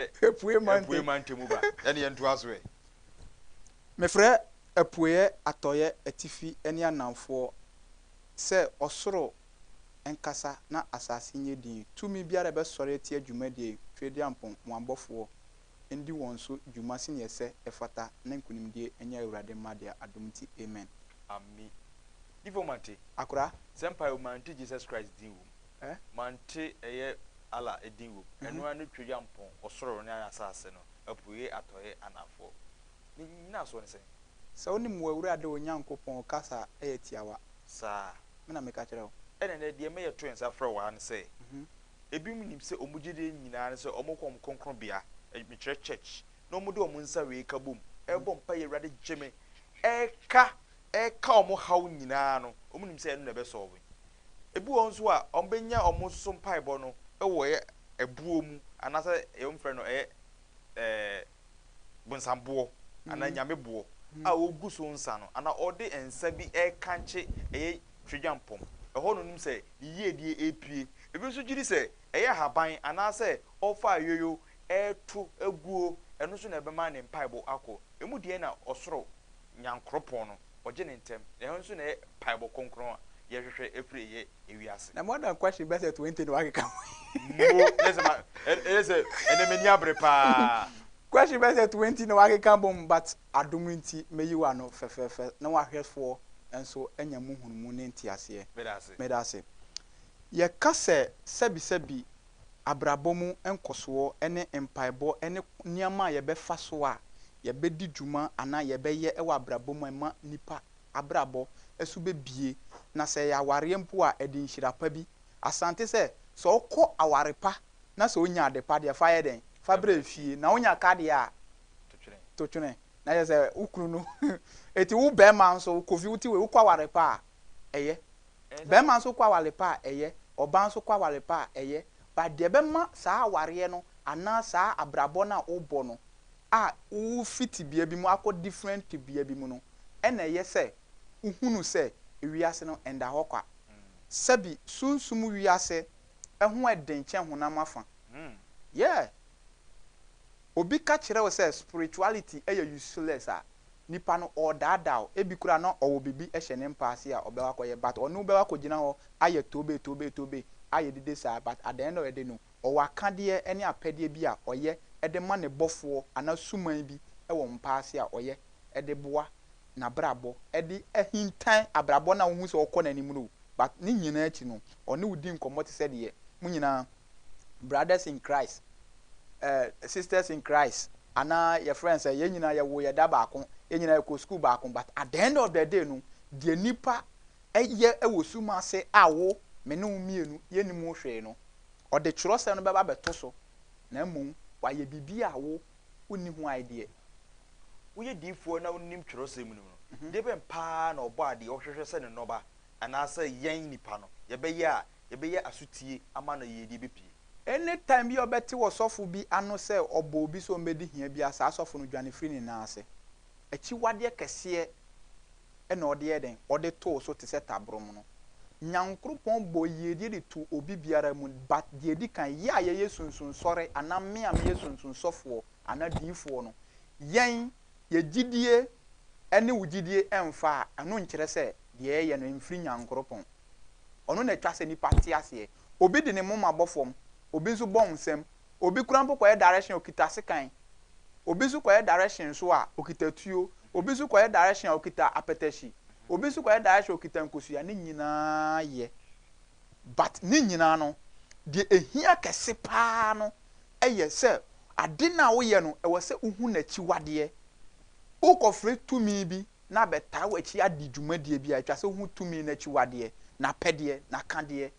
Apueɛ ma ntɛm. Apueɛ ma ntɛm ba. Ɛne yɛn ntoa so ɛ. Mefrɛ apueɛ, atɔeɛ, atifi ne anamfoɔ sɛ ɔsoro nkasa na asase nyɛ dinn. Tumi biara a ɛbɛsɔre atia dwumadie yi, Tweaduampɔn, mo abɔfoɔ, ndi wɔn so dwuma sɛdeɛ ɛsɛ, ɛfata, na nkunimdie nyɛ Awurade mma deɛ adom nti. Amen. Ame. Difo Mante. Akora. Sɛ mpaeɛ o, Mante Jesus Christ din wom. Eh? Mante ɛyɛ Allah din wom, ɛno ara ne Tweduampɔn, ɔsoro ne asaase no, apueɛ, atɔeɛ, anaafoɔ. Ne nnyinasoɔ ne sɛn? Sɛ wonim w'Awurade wo Nyankopɔn kasa a ɛyɛ tiawa. Saa. Me na meka kyerɛ wo. Ɛna ɛnnɛ deɛ ɛma yɛto nsa frɛ wo ara ne sɛ, ebinom nim sɛ wɔn gyedie nyinaa ne sɛ wɔkɔ wɔn kronkronbea, mekyerɛ church, na wɔde wɔn nsa wei ka bom, ɛrebɔ mpaeɛ, Awurade gye me, ɛreka ɛreka wɔn haw nyinaa no, wɔnim sɛ ɛno na ɛbɛsɔlve. Ebi wɔ hɔ nso a, wɔbɛnya wɔn nso so mpaebɔ no wɔ ɛyɛ ɛboɔ mu anaasɛ deɛ wɔfrɛ no ɛyɛ ɛɛ bonsamboɔ anaa nyameboɔ a ɔgu so nsa no anaa ɔde nsa bi rekankye ɛyɛ twadwampɔm. Ɛhɔ na ɔnim sɛ ne yiedie repue. Ebi nso gye di sɛ ɛyɛ ahaban anaasɛ ɔrefa ayoyo reto aguo, ɛno nso na ɛbɛma ne mpaebɔ akɔ. Emu deɛn na ɔsoro Nyankoropɔn no, Ɔgye no ntɛm. Na ɛhɔ nso na ɛyɛ paebɔ kronkron a yɛhwehwɛ ɛfiri ɛyɛ ewiase. Na more than question bɛsɛ twenty na wakeka ho yi. Mmuo, ɛyɛ sɛ ma, ɛyɛ sɛ ɛnɛ m'ani abere paa. Question bɛsɛ twenty na wakeka bom but adom nti mɛyi wo ano fɛfɛɛfɛ na w'ahwɛfoɔ nso anya mu nhunumu ne nteaseɛ. Meda ase. Meda ase. Yɛka sɛ sɛbisɛbi abrabɔ mu nkɔsoɔ ne mpaebɔ ne nneɛma a yɛbɛfa so a yɛbɛdi dwuma anaa yɛbɛyɛ wɔ abrabɔ mu a ɛma nnipa abrabɔ so bɛbue, na sɛ ɛyɛ awareɛ mpo a ɛde nhyira pa bi. Asante sɛ, sɛ wokɔ aware pa na sɛ wonya ade pa deɛ fa yɛ dɛn? Fa brɛ fie. Na wonya ka deɛ a, to twene. Na kyerɛ sɛ, wo kunu no, enti wo barima nso, wokɔ fie, wote wei, wokɔ aware pa a, ɛyɛ. Bɛɛma nso kɔ aware pa a, ɛyɛ. Ɔbaa nso kɔ aware pa a, ɛyɛ. But deɛ ɛbɛma saa awareɛ no anaa saa abrabɔ no a wobɔ no a wofi tebea bi mu akɔ different tebea bi mu no, ɛna ɛyɛ sɛ wohunu sɛ wiase no ɛnda hɔ kwa. Sɛbi sunsum wiase ho ɛden kyɛn honam afa. Yeah! Obi ka kyerɛ wo sɛ spirituality yɛ useless a, nipa no ɔɔdaadaa wo. Ebi koraa na ɔwɔ biribi hyɛ ne mpa ase a ɔbɛkɔ akɔyɛ but ɔne wo bɛkɔ akɔgyina hɔ ayɛ tobe tobe tobe ayɛ dede saa but at the end of the day no ɔwɔ akadeɛ ne apɛdeɛ bi a ɔyɛ de ma ne bɔfoɔ anaa suman bi wɔ mpa ase a ɔyɛ de boa n'abrabɔ de ahintan abrabɔ no a wohu sɛ ɔkɔ n'anim no o but ne nyinaa akyi no ɔne wo di nkɔmmɔ te sɛ deɛ mo nyinaa Brothers in Christ, eh, Sisters in Christ, anaa yɛfrɛ sɛ yɛn nyinaa yɛwo yɛ da baako, yɛn nyinaa yɛkɔ sukuu baako, but at the end of the day no, deɛ nipa yɛ wɔ sum ase a wo, me ne wo mmienu yɛnnim ho hwee no, ɔde twerɛsɛm no bɛba abɛto so, na mmom wayɛ biribi a wo, wonni ho idea. Woyɛ diifoɔ na wonim twerɛsɛm no mu no, deɛ bɛn paa na Ɔbɔadeɛ ɔhwehwɛ sɛ Ne nnɔba, anaasɛ yɛn, nnipa no, yɛbɛyɛ a yɛbɛyɛ asotie ama no yiyedie bɛpie. Any time bi a ɔbɛte ɔsɔfo bi ano sɛ ɔbɔ obi sɛ ɔmmɛdi hia bi a saa sɔfo no dwane firi ne nan ase. Akyiwadeɛ kɛseɛ na ɔde yɛ dɛn? Ɔde too so te sɛ tabrɔm no. Nyankoropɔn bɔɔ yiyedie de too obi biara mu but deɛ ɛdi kan yɛ a yɛyɛ sunsunsɔre anaa me a meyɛ sunsunsɔfoɔ anaa diyifoɔ no yɛn yɛ gyidie ɛne wo gyidie ɛmfa a ɛno nkyerɛ sɛ deɛ yɛyɛ no ɛmfiri nyankoropɔn. Ɔno na ɛtwa sɛ nipa te aseɛ. Obi de ne moma bɔ fam, obi nso bɔ nsam. Obi koraa mpo kɔyɛ direction a ɔkita sekan. Obi nso kɔyɛ direction nso a ɔkita tuo. Obi nso kɔyɛ direction a ɔkita apɛtɛhyi. Obi nso kɔyɛ direction a ɔkita nkosua. Ne nyinaa yɛ but ne nyinaa no deɛ ɛhia kɛse pa ara no yɛ sɛ ade no a woyɛ no ɛwɔ sɛ wohu n'akyiwadeɛ. Wokɔfrɛ tumi bi na abɛtaa w'akyi adi dwumadie bi a, ɛtwa sɛ wohu tumi no akyiwadeɛ, n'apɛdeɛ, n'akadeɛ,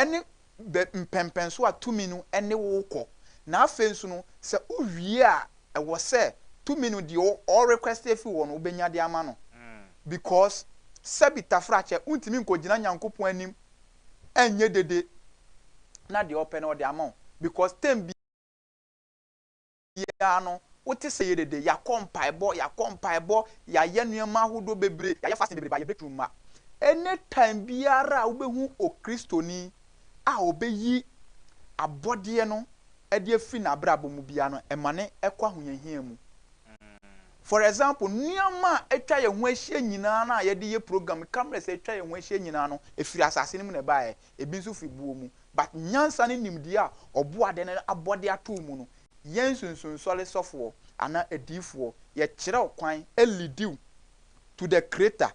ne bɛ mpɛnpɛnsoɔ a tumi no ne wo rekɔ. Na afei nso no, sɛ wowie a, ɛwɔ sɛ tumi no deɛ ɔ request afiri hɔ no, wobɛnya de ama no. Because sɛbi tafrakyɛ, wontumi nkɔgyina Nyankopɔn anim nyɛ dede na deɛ ɔpɛ no ɔde ama wo. Because time bi. biara no, wote sɛ yɛ dede, yɛakɔ mpaebɔ, yɛakɔ mpaebɔ, yɛayɛ nneɛma ahodoɔ bebree, yɛayɛ fasting bebree but yɛ breakthrough mma. Any time biara a wobɛhu Okristoni a ɔbɛyi abɔdeɛ no de afiri n'abrabɔ mu biara no, ɛma no kɔ ahohiahia mu. For example, nneɛma a atwa yɛn ho ahyia nyinaa no a yɛde yɛ program, cameras a atwa yɛn ho ahyia nyinaa no, ɛfiri asase no mu na ɛbaeɛ. ebi nso fi boɔ mu, but nyansa ne nimdeɛ a Ɔboade no abɔ de ato wo mu no, yɛn nsunsunsɔre sɔfoɔ anaa adiyifoɔ, yɛkyerɛ wo kwan, leadi wo to the Creator,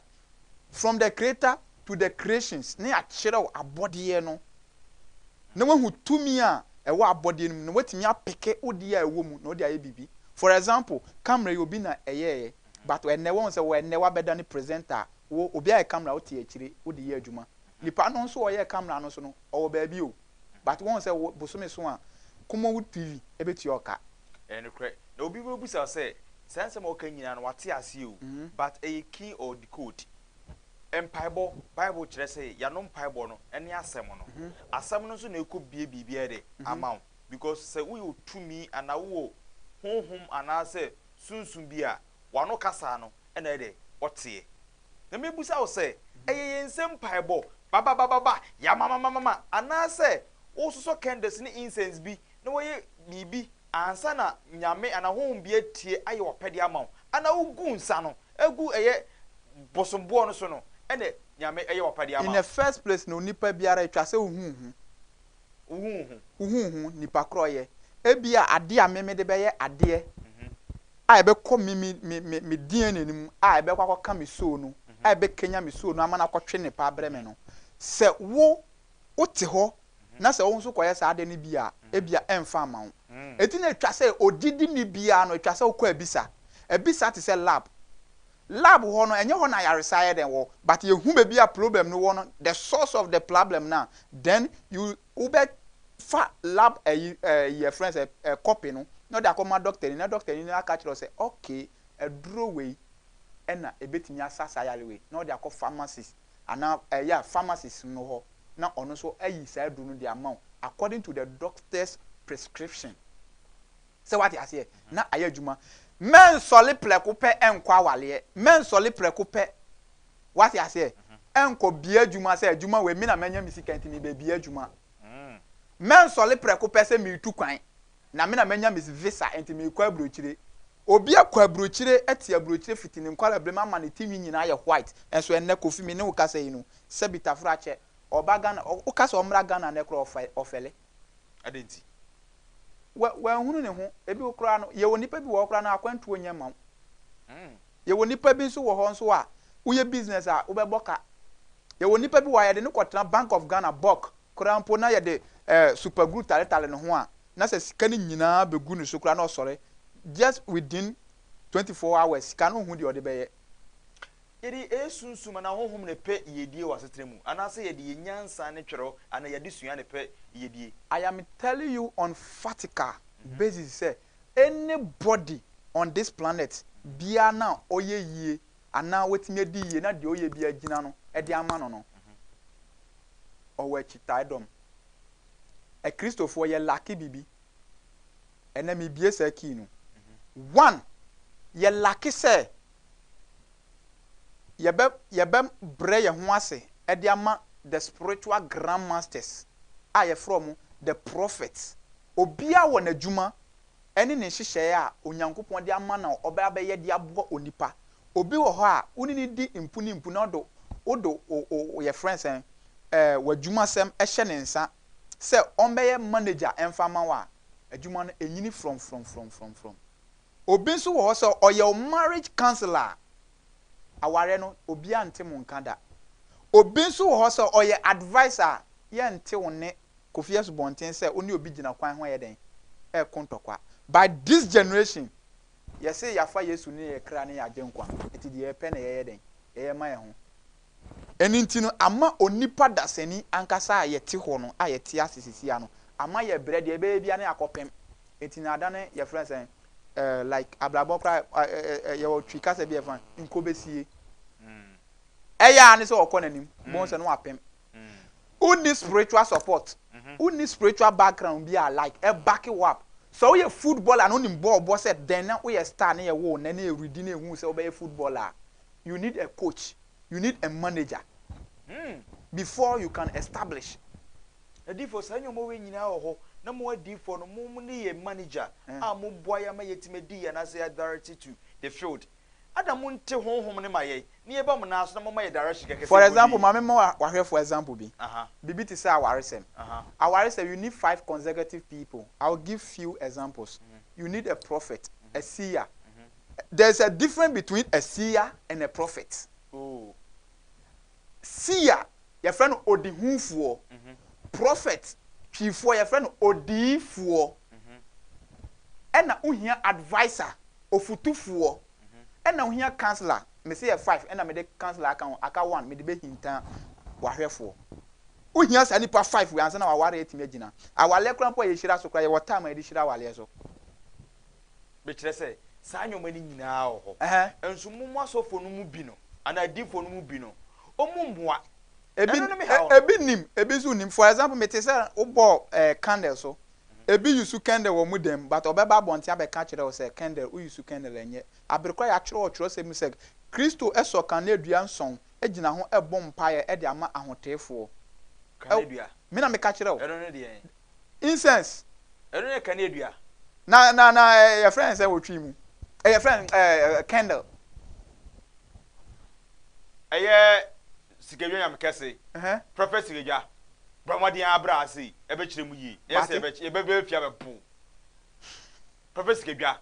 from the Creator to the creations, na yɛakyerɛ wo abɔdeɛ no, na woahu tumi a ɛwɔ abɔdeɛ no mu, na woatumi apeke wo deɛ a ɛwɔ mu na wode ayɛ biribi. For example, camera yi obi na ɛyɛeɛ, but ɛnnɛ woahu sɛ wɔ ɛnnɛ woabɛdane presenter a, wo, obi ayɛ camera a wote akyire wode yɛ adwuma. Nipa no nso ɔyɛ camera no so no ɔwɔ baabi o but wɔn sɛ wo bosome so a Kumowood TV ɛbɛtua wo ka. Ɛyɛ nokorɛ na obi bɛbusa wo sɛ saa nsɛm a woka nyinaa no wate aseɛ o but ɛyɛ key or decode. Mpaebɔ, bible kyerɛ sɛ yɛano mpaebɔ no ɛne asɛm no. Asɛm no nso na ɛkɔ bue biribiara dɛ ama wo because sɛ woyɛ otumi anaa wowɔ honhom anaasɛ sunsum bi a, W'ano kasaa no na ayɛ dɛ ɔteɛ. Na mebisa wo sɛ, ɛyɛ yɛn nsam mpaebɔ, ba-ba-ba-ba-ba, ya-ma-ma-ma-ma-ma, anaasɛ wososɔ candles ne incense bi na woyɛ biribi ansa na nyame anaa honhom bi atie ayɛ w'apɛdeɛ ama wo, anaa wogu nsa no gu ɛyɛ bosom boɔ no so no na nyame yɛ w'apɛdeɛ ama In wo? the first place no, onipa biara, ɛtwa sɛ wohu wo ho. Wo ho wo ho. Wo ho wo ho, nipa korɔyɛ. Ebia adeɛ a me mede bɛyɛ adeɛ a ɛbɛkɔ me me me me me DNA no mu a ɛbɛkɔ akɔka me soul no a ɛbɛkanya me soul no ama no akɔtwe nnepa abrɛ me no, sɛ wo wote hɔ na sɛ wo nso kɔyɛ saa adeɛ no bi a, ebia ɛmfa mma wo. Enti na ɛtwa sɛ ogyidini biara no ɛtwa sɛ wokɔ abisa. Abisa te sɛ lab. Lab hɔ no ɛnyɛ hɔ na ayaresa yɛ dɛn wɔ but yɛ hu baabi a problem no wɔ no the source of the plablem no a then you wo bɛ fa lab ɛyi ɛyi yɛfrɛ no sɛ ɛ copy no na ɔde akɔ ma doctor ni na doctor ni no aka kyerɛ wo sɛ okay aduro wei ɛna ɛbɛtumi asa saa yare wei na ɔde akɔ pharmacist anaa ɛ yeah pharmacist no hɔ na ɔno nso ayi saa aduro no de ama wo according to the doctor's prescription. Sɛ wate aseɛ, na ayɛ adwuma. Mɛnsɔre prɛko pɛ nkɔ awareɛ. Mɛnsɔre prɛko pɛ, wate aseɛ, nkɔ bea adwuma sɛ adwuma wei me na manya me sika nti meba bea adwuma. Mɛnsɔre prɛko pɛ sɛ meretu kwan na me na manya me visa nti merekɔ aburokyire. Obi akɔ aburokyire te aburokyire fiti ne nkwareberem ama ne ti nwi nyinaa ayɛ white nso ɛnnɛ Kofi me ne wo kasa yi no, sɛbi taforo akyɛ, ɔreba Ghana, woka sɛ ɔmmra Ghana nnɛ koraa ɔfɛre. Adɛn nti? Wa, wanhunu ne ho. Ebi wɔ koraa no, yɛwɔ nnipa bi wɔ hɔ koraa no, akwantuo nyɛ mma wo. Mm. Yɛwɔ nnipa bi nso wɔ hɔ nso a, woyɛ business a, wobɛbɔ ka. Yɛwɔ nnipa bi wɔ ha, yɛde no kɔtena Bank of Ghana, BOC, koraa mpo na yɛde eh, super glue taletale ne ho a, na sɛ sika no nyinaa bɛgu ne so koraa na ɔsɔre, just within 24 hours, sika no nhu deɛ ɔde bɛyɛ. Yɛde yɛn sunsum anaa honhom na ɛpɛ yiedie wɔ asetena mu anaasɛ yɛde yɛn nyansa ne twerɛ anaa yɛn adesua na ɛpɛ yiedie? I am telling you on fatical basis sɛ any body on this planet biara no a ɔyɛ yie anaa watumi adi yie na deɛ ɔyɛ biara gyina no de ama no no, ɔwɔ akyitaedɔm. Akristofoɔ yɛ lacke biribi. Ɛnnɛ mebue saa key no. One, yɛ lacke sɛ Yɛbɛ yɛbɛ brɛ yɛn ho ase de ama the spiritual grand masters a yɛfrɛ wɔn the prophets. Obiara wɔ n'adwuma ne ne nhyehyɛeɛ a Onyankopɔn de ama no a ɔbɛ abɛyɛ de aboa onipa. Obi wɔ hɔ a wo ne no di mpu ne mpu na ɔde wode wo wo wo yɛfrɛ no sɛn eh, w'adwumasɛm hyɛ ne nsa sɛ ɔmmɛyɛ manager mfa mma wo a, adwuma no ɛnyini frɔmfrɔmfrɔmfrɔmfrɔm. Obi nso wɔ hɔ sɛ ɔyɛ wo marriage counsellor a, awareɛ no obiara nte mo nka da. Obi nso wɔ hɔ sɛ ɔyɛ adviser a, yɛnte wo ne Kofi Asubɔnten sɛ wo ne obi gyina kwan ho ɛyɛ dɛn? Ɛreko ntɔkwa. But this generation, yɛse yɛafa Yesu ne yɛn kra ne yɛn agyenkwa, nti deɛ yɛpɛ na yɛyɛ dɛn? Yɛyɛ ma yɛn ho. Ɛno nti no, ama onipa dasani ankasa a yɛte hɔ no, a yɛte ase sisiaa no, ama yɛbrɛ, deɛ ɛbɛyɛ biara ne akɔpem. Nti na adane, yɛfrɛ no sɛn, eh, like abrabɔ koraa, eh, eh, eh, eh, yɛwɔ Twi kasa bi a yɛfrɛ no nkobesie. Ɛyɛ ara ne sɛ ɔkɔ n'anim, bohu sɛ no apem. Wonni spiritual support, wonni spiritual background bi a like ɛbake wo up. Sɛ woyɛ footballer na wonim bɔɔl bɔ sɛ dɛn na woyɛ star na yɛwoo wo nnɛ na yɛredi na yɛhuu sɛ wobɛyɛ footballer a, you need a coach you need a manager before you can establish. Adiifoɔ saa nnoɔma wei nyinaa wɔ hɔ na mo adiifoɔ no mo mo ne yɛ manager a mo boa yɛ ama yɛtumi adi yɛ anaasɛ yɛ direct to the field ada mo nte honhom no ma yɛn na yɛba mo nan so na mo ma yɛ direction kɛkɛ sɛ for example ma me ma wahwɛfoɔ example bi biribi te sɛ awaresɛm awaresɛm you need five consecutive people I will give few examples you need a prophet a seer There is a different between a seer and a prophet. Seer, yɛfrɛ no odihufoɔ. Prophet, twifoɔ, yɛfrɛ no odiyifoɔ. Ɛna wohia adviser, ofutufoɔ. Ɛna wohia counsellor, mese yɛ five ɛna mede counsellor aka ho, aka one mede bɛhinta wahwɛfoɔ. Wohia saa nipa five wei ansa na w'awareɛ atumi agyina. Awaleɛ koraa mpo a yɛhyira so koraa yɛwɔ time a yɛde hyira awaleɛ so. Bi kyerɛ sɛ, saa nneɛma no nyinaa wɔ hɔ. Nso mo mo asɔfoɔ no mu bi no, anaa adiyifoɔ no mu bi no, wɔn mmoa. Ebi Ɛno no mehaw no. ebi nim, ebi nso nnim. For example, mete sɛ wobɔɔ eh, candle so. Ebi use candle wɔ wɔn dan mu, but ɔbɛba abɔnten abɛka akyerɛ wo sɛ, candle, wo use candle ɛnyɛ. Aber koraa yɛatwerɛ wɔ twerɛsɛm mu sɛ, Kristo sɔ kaneadua nson gyina ho bɔ mpaeɛ de ama ahoteefoɔ. Kaneadua. Me na meka kyerɛ wo. Ɛno ne deɛn? incense. Ɛno yɛ kaneadua. Na na na eh, yɛfrɛ no sɛ wɔtwi mu. Eh, yɛfrɛ no eh, eh, candle. Ɛyɛ sikadwa nyame kɛse. Prɔfɛt sikadwa. Bra mmɔden ara bra ase yi. Ɛbɛkyerɛ mu yie. Ɛyɛ sɛ yɛbɛbɛ fie abɛpo. Prɔfɛt sikadwa.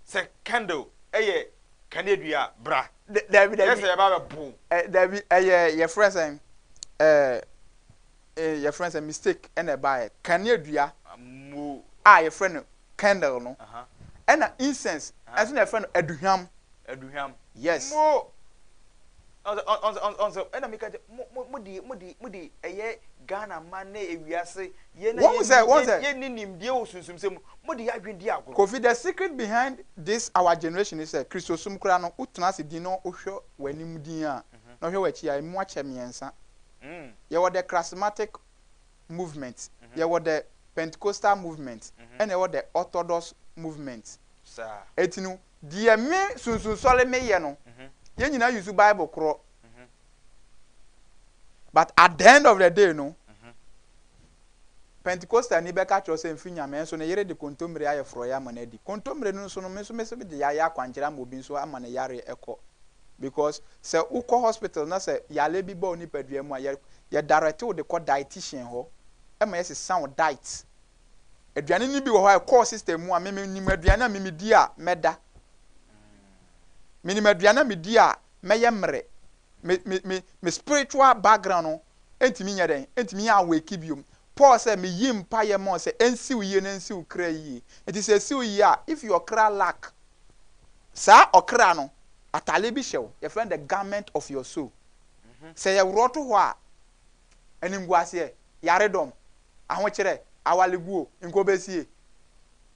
Sɛ candle ɛyɛ kaneadua bra. Dabi dabi. Ɛyɛ sɛ yɛbɛ abɛpo. Dabi ɛyɛ yɛfrɛ sɛ ɛɛ. Eh, yɛfrɛ no sɛ mistake ɛna ɛbaeɛ. Kaneadua a yɛfrɛ no candle no, ɛna incense nso na yɛfrɛ no aduhwam. Aduhwam. Yes. Mo, ɔn sɛ, ɔn sɛ, ɔn sɛ, ɛna meka kyɛ, mo, mo, mo de, mo de, mo de ɛyɛ Ghana man ne ewiase, yɛn a Wɔn sɛ, wɔn yɛn, sɛ. yɛn ni nimdeɛ wɔ sunsumsɛm mu, mo de yɛn adwene di agorɔ. Kofi, the secret behind this our generation ne sɛ, Kristosom koraa no, wotena ase dinn na wohwɛ w'anim dinn a, na wohwɛ w'akyi a, emu akyɛ mmiɛnsa. Yɛwɔ the Charismatic Movement, yɛwɔ the Pentecostal Movement, ɛna yɛwɔ the Orthodox Movement. Enti no, deɛ me Sunsunsɔre meyɛ no, yɛn nyinaa use Bible korɔ. But at the end of the day no, Pentekostani bɛka akyerɛ wo sɛ mfiri Nyame nso ne yere de kontommire ayɛ forɔeɛ ama no adi. Kontommire no nso no me nso mese mede yɛayɛ akwankyerɛ ama obi nso ama ne yareɛ ɛkɔ. Because sɛ wokɔ hospital na sɛ yareɛ bi ba wo nipadua mu a yɛ yɛ direct wo de kɔ dietitian hɔ ma yɛsesa wo diet. Aduane no bi wɔ hɔ a ɛkɔ wo system mu a me me nim aduane a me medi a mɛda. Menim aduane a medi a mɛyɛ mmerɛ. me me me me spiritual background no ntumi nyɛ dɛn ntumi awake biom. Paul sɛ me yi mpaeɛ ma wɔn sɛ ɛnsiw yie na ɛnsiw kra yie. Nti sɛ ɛsiw yie a if your kra lack saa ɔkra no ataadeɛ bi hyɛ wo yɛfrɛ no the garment of your soul. Sɛ yɛworɔ to hɔ a animguaseɛ, yaredɔm, ahokyerɛ, awaleguo, nkobesie,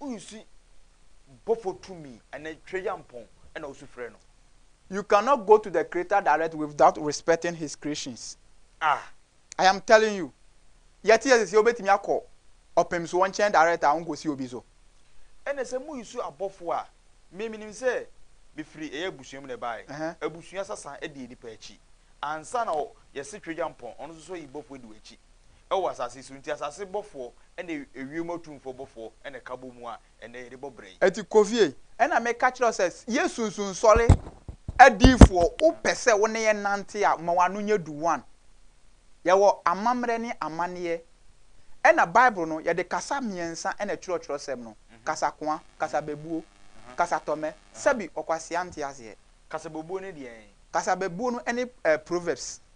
Wonsi bɔfo tumi ne tweyampɔn na wosu frɛ no. You cannot go to the Creator direct without respecting His creations. Ah! I am telling you, yɛte yɛ sɛsɛ wobɛtumi akɔ ɔpemsoɔ nkyɛn direct a wonkɔsi obi so. Ɛna sɛ moresu abɔfo a, me menim sɛ mefiri ɛyɛ abusua mu na ɛbaeɛ, abusua sasa di nnipa akyi. Ansa na yɛse tweyampɔn, ɔno nso so yi bɔfo di w'akyi. wɔ asase so, nti asase bɔfoɔ ne ewiem atumfoɔ bɔfoɔ na ɛka bɔ mu a ɛnnɛ yɛde bɔ bra yi. Ɛti kɔ fie. Ɛna me ka kyerɛ wo sɛ yɛ sunsun nsɔre adiifoɔ wo pɛ sɛ wo ne yɛn nante a ma w'ano nyɛ du one yɛ wɔ amammerɛ ne amaneɛ ɛna bible no yɛde kasa mmiɛnsa na ɛtwerɛ twerɛsɛm no kasa koa kasa bɛbuo kasa tɔmɛ sɛbi ɔkwasea nte aseɛ. Kasa bɛbuo ne deɛn? Kasa bɛbuo no ɛne proverbs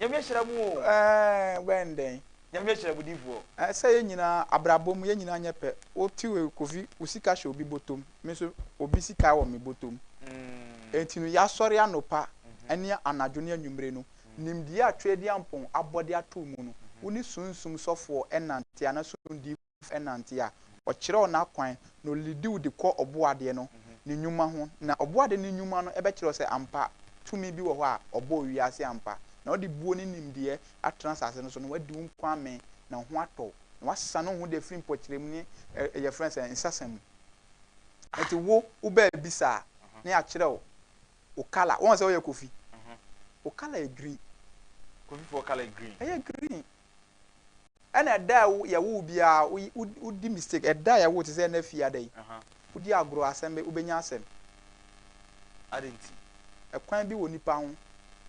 Nyame ahyira mo o. Ɛɛn wɛn dɛn. Nyame ahyira mo difoɔ. Sɛ yɛn nyinaa abrabɔ mu yɛn nyinaa nyɛ pɛ wo te wei Kofi wo sika hyɛ obi botom me nso obi sika wɔ me botom enti no yasɔre anopa ne anadwo ne anwummere no nimdeɛ a Tweaduampɔn abɔ de ato wo mu no wo ne sunsum sɔfoɔ ɛnante anaa sumdifoɔ nante a, ɔkyerɛw n'akwan na olidiw de kɔ Ɔbɔadeɛ no ne nnwuma ho. Na Ɔbɔadeɛ no nnwuma no bɛkyerɛw sɛ ampa tumi bi wɔ hɔ a ɔbɔɔ wiase ampa, na ɔde buo ne nimdeɛ atena asase no so, na wadi wo nko amee, na wo ho atɔ wo, na woasesa ne wo ho de afiri mpɔkyerɛmu ne ɛɛ yɛfrɛ no sɛn, nsasa mu. Ɛnti wo, wo bɛɛbisa a, na yɛakyerɛw wo colour. Woahu sɛ woyɛ Kofi? Wo colour yɛ green. Kofifoɔ colour yɛ green? Ɛyɛ green. Ɛna ɛda a yɛwo wo biara wodi mistake ɛda a yɛwo wo te sɛ ɛna fie ada yi wodi agorɔ asɛm bɛ wobɛnya asɛm adɛn nti ɛkwan bi wɔ nipa ho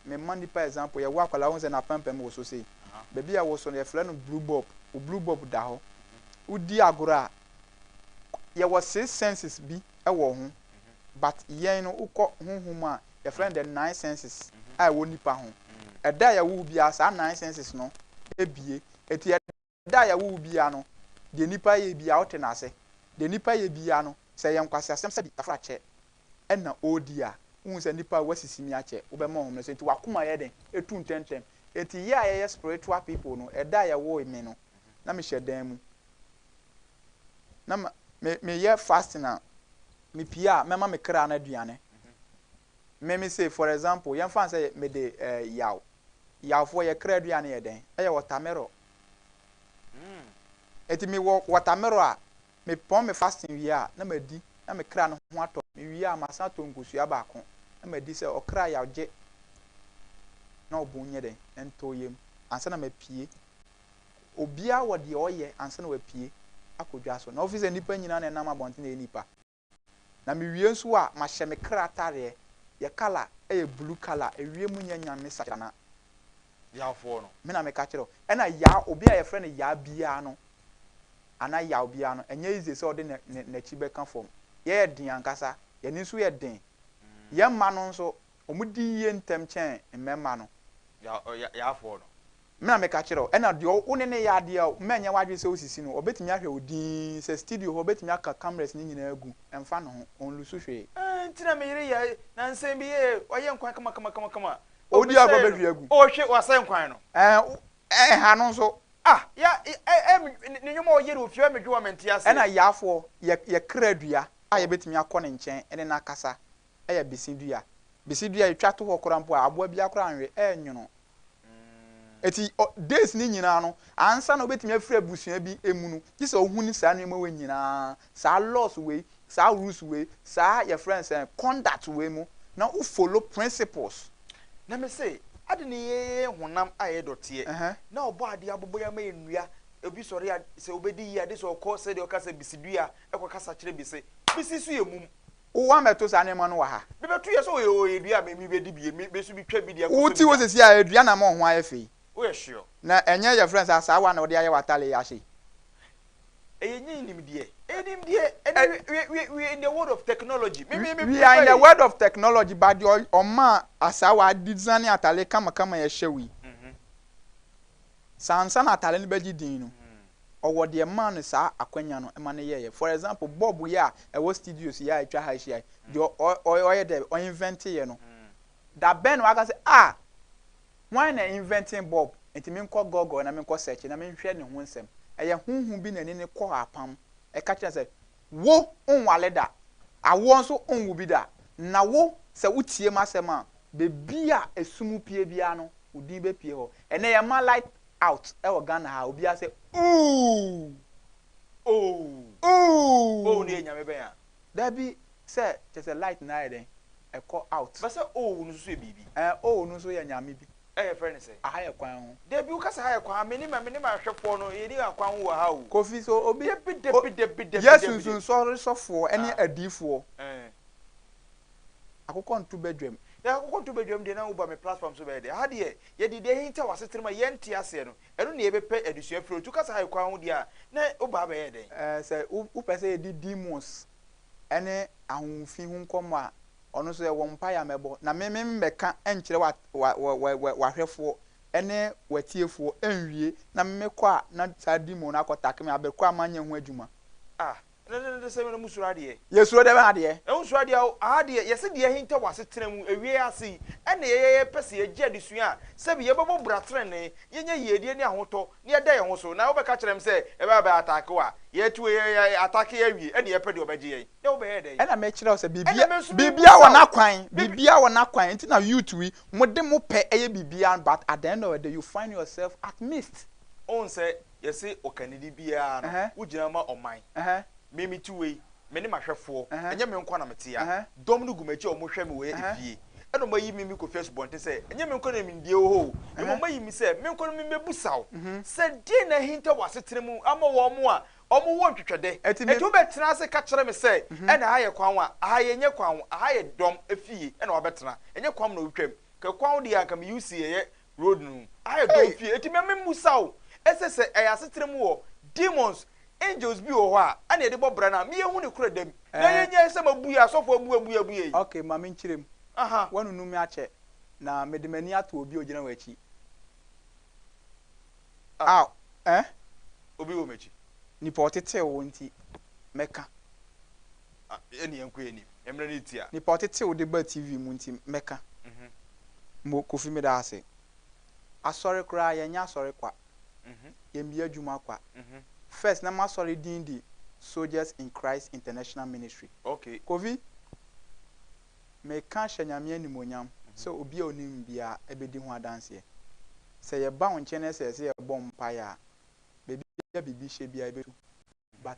me ma nipa example yɛwo akwadaa wohu sɛ n'apampam wo so sei baabi a wo so no yɛfrɛ no blue bob wo blue bob da hɔ wodi agorɔ a yɛwɔ six senses bi wɔ ho but yɛn no wokɔ honhom a Yɛfrɛ no the nine senses a ɛwɔ nipa ho. Ɛda a yɛwo wo biara saa nine senses no bue. Enti ɛda a yɛwo wo biara no, deɛ nipa yɛ biara wote no ase. Deɛ nipa yɛ biara no, sɛ ɛyɛ nkwaseasɛm sɛbi afrakyɛ na ɔredi a, wohu sɛ nipa woasisi me akyɛ, wobɛma ɔhome no so. Enti w'akoma yɛ den, ɛtu ntɛmntɛm. Enti yɛ a yɛyɛ spiritual people no, ɛda a yɛwoo me no, na mehyɛ dan mu. na ma me meyɛ fasting a mepie a mɛma me kra no aduane me me say for example yɛmfa sɛ mede eh, yaw yawfoɔ yɛ kra aduane yɛ dɛn ɛyɛ wɔtamero ɛti me wɔ wɔtamero a mepɔn me fasting wie a na madi na me kra no ho atɔ me wie a masan atɔ nkosua baako na madi sɛ ɔkra yaw gye na ɔbon nyɛ dɛn ɛntɔ yam ansa na mapie Obiara wɔ deɛ ɔyɛ ansa na wapue akɔ dwa so. Na wofi sɛ nnipa nyinaa na ɛnam abɔnten ɛyɛ nnipa. Na mewie nso a, mahyɛ me kra atareɛ. Yɛ kala yɛ blue kala. Ewiem nyɛ nyame sakyana. Yawfoɔ no. Me na meka kyerɛ wo. Ɛna Yaw, obi a yɛfrɛ no Yaw biara no, anaa Yaw biara no, ɛnyɛ easy sɛ ɔde ne, ne, n'akyi bɛka fam. Yɛyɛ den ankasa. Yɛn ani nso yɛ den. Yɛn mma no nso, Wɔn di yie ntɛm kyɛn mmɛmma no. Deɛ ɔyɛ yafoɔ no. Me na meka kyerɛ wo. Ɛna deɛ wo ne no yɛ adeɛ a mma ɛnyɛ w'adwene sɛ wosisi no, ɔbɛtumi ahwɛ wo dinn. Sɛ studio hɔ, ɔbɛtumi aka cameras no nyinaa agu. Ɛmfa ne ho. Ɔnlusu hwee. Nti na me yere yɛ nansa bi ee, wayɛ nkwan kamakamakama. Ɔredi agorɔ bɛhwie agu. Ɔrehwe, wasɛe nkwan no. Ɛɛ, ɛha no nso. Ah, ya, ɛɛ, ne nneɛma a ɔyɛ no wɔ fie, ɛyɛ me dwowa, mente aseɛ. Ɛna yafoɔ, yɛ, yɛ kra dua a yɛbɛtumi akɔ ne nkyɛn ne no akasa. yɛ bese dua. Bese dua etwa to hɔ koraa mpo a aboa biara koraa nnwe, ɛrenwono. Enti ɔ days no nyinaa no, ansa na obetumi afiri abusua bi mu no, gye sɛ ohu ne saa nneɛma wei nyinaa, saa laws wei, saa rules wei, saa yɛfrɛ no sɛn, conduct wei mu, na wo follow principles. Na me se, adɛn na yɛyɛ honam a ɛyɛ dɔteɛ, Ɛhɛn. na Ɔbɔɔ adeɛ abobɔ yɛn ama yɛn nnua, obi sɔre a, sɛ obedi yie a, gye sɛ ɔkɔ sɛdeɛ ɔka sɛ bese dua a, ɛkɔ kasa kyerɛ bese. Bese nso yɛ mum. Wo wa mɛto saa nneɛma no wɔ ha. Bi bɛto yɛ sɛ ɔyɛ ɔyɛ dua a mɛ mi bɛ di bi yɛ mi bɛ so bi twɛ bi di akɔtɔ bi da. Wo ti hɔ sɛsi a dua na mɔ ɔho ayɛ fɛ yi. Wo yɛ hweɔ. Na ɛnyɛ yɛ frɛ no sɛ asaawa na ɔde ayɛ wɔ atare yi ahyɛ yi. Ɛyɛ nyɛ nimdeɛ ɛyɛ nimdeɛ ɛnɛ we we we in the world of technology me me me. We are in the world of technology but deɛ ɔma asaawa adizane atare kama kama yɛ hyɛ wo yi saa nsa na atare no bɛ gye din no ɔwɔ deɛ ɛmaa no saa akwanya no ma no yɛeɛ. For example, bulb yi a ɛwɔ studios yi a atwa ha ahyia yi, deɛ ɔ, ɔ, ɔyɛ dɛ, ɔinvɛnteeɛ no, da bɛn na waka sɛ, ah, hwan na invɛntee bulb? Nti menkɔ Google na menkɔ search na menhwɛ ne ho nsɛm. Ɛyɛ honhom bi na ɛne no kɔɔ apam, ɛka kyerɛɛ no sɛ, Wo, wonwale da, awoɔ nso wonwo bi da, na wo, sɛ wotie m'asɛm a, baabi a esum pue biara no, wo din bɛpue hɔ. Ɛnnɛ yɛmma light Out ɛwɔ Ghana ha obiara sɛ ooh ooh ooh ooh no yɛ nyame bɛn a. Dabi sɛ kyerɛ sɛ light no ayɛ dɛn ɛkɔ out. Bɛsɛ ooh no nso so yɛ biribi. Ɛɛ ooh no nso yɛ nyame bi. Ɛ yɛfrɛ no sɛ. Aha yɛ kwan ho. Dabi wo ka sɛ ha yɛ kwan ha mene ma mene ma ahwɛfoɔ no yɛ ni akwan ho wɔ ha oo. Kofi so obi Dabi dabi dabi dabi dabi. Yɛ sunsun sɔre sɔfoɔ ɛne adiifoɔ. Ɛɛ. Akokɔ nto badwam. Na akokɔ nto badwam deɛ na woba me platform so bɛyɛ dɛ. Ha deɛ yɛde deɛ ahintaw asetena mu a yɛnte aseɛ no, ɛno na yɛbɛpɛ adesua firi hɔ. Nti wokasa ha kwan ho deɛ a, na woba abɛyɛ dɛn? Ɛɛ, sɛ wopɛ sɛ yɛdi demons ne ahohofi ho nkɔmmɔ a, ɔno nso yɛwɔ mpaeɛ a mɛbɔ. Na me memmɛka nkyerɛ wa, wa, wa, wa, wa, w'ahwɛfoɔ ne w'atiefoɔ nwie, na mekɔ a na saa demon no akɔtake me, aberɛ korɔ a manyɛ ho adwuma. Ah, Ɛno ne ne sɛm na mo suro adeɛ. Yɛsuro dɛn adeɛ? Yɛn ho suro adeɛ o, aha deɛ yɛse deɛ ahinta wɔ asetena mu awieɛ ase yi ɛna yɛyɛ yɛpɛ sɛ yɛgye adesua a sɛbi yɛbɛbɔ bra trenee, yɛnya yiedie ne ahotɔ na yɛda yɛn ho so na wobɛka kyerɛ me sɛ yɛbɛba bɛ attack wo a, yɛatu wo yɛ yɛ attack yɛ awie ɛna yɛpɛ deɛ ɔbɛgye yɛn na wobɛyɛ dɛn? Ɛna mekyerɛ wo sɛ biribiara Ɛna me nso biribiara wɔ mebisa wo n'akwan, Biribi biribiara wɔ n'akwan nti na youth yi mode mopɛ yɛ biribiara but at the end of the day you find yourself at missed. Wohu sɛ Yɛse ɔkanidi biara no wogyina ma ɔman Me mete wei mene mahwɛfoɔ ɛnyɛ me nkoa na mete ha Dɔm no gu makyi a wɔhwɛ me wɔ efie Ɛna wɔn ayi me me kɔfi asubɔnten sɛ ɛnyɛ me nkoa na nimdeɛ wɔ hɔ o Mmom wɔn ayi me sɛ me nkoa no me mmɛbusa wo sɛ deɛn na ahinta wɔ asetena mu ama wɔn a wɔn wɔ ntwetwɛdɛ Enti wo bɛtena ase ka kyerɛ me sɛ ɛna ha yɛ kwan wa aha yɛ nyɛ kwan wo aha yɛ dɔm efie ɛna wabɛtena ɛnyɛ kwan mu na wotwam Kɛ kwan wo deɛ anka me UC ɛyɛ Road no mu. Ayɛ dɔn fie enti me me musa wo ɛsɛ sɛ ɛyɛ asetena mu wɔ demons angels bi wɔ hɔ a ɛna yɛde bɔ bra no a me yɛ hu ne korɛ dam na yɛ nya sɛ ma bue asɔfo abue abue abue yi. Ok ma me nkyerɛ mu. Aha. Wa nunu me akyɛ na me de m'ani ato obi a ogyina wɔ akyi a eh. Obi wɔ m'akyi. Nipa ɔtetew wo nti mɛka. Ɛne yɛnkɔ yɛn anim. Mmerɛ no retia. Nipa ɔtete wo de ba TV mu nti mɛka mo Kofi meda ase. Asɔre koraa yɛnyɛ asɔre kwa. Yɛn bia adwuma kwa. First na m'asɔre din de Soldiers in Christ International Ministry. Kofi meka hyɛ Nyame animuonyam sɛ obi a onim biara ɛbɛdi ho adanseɛ. Sɛ yɛba wo nkyɛn na sɛ yɛse yɛbɔ mpaeɛ a baabi a biribi hyɛ biara ɛbɛtu but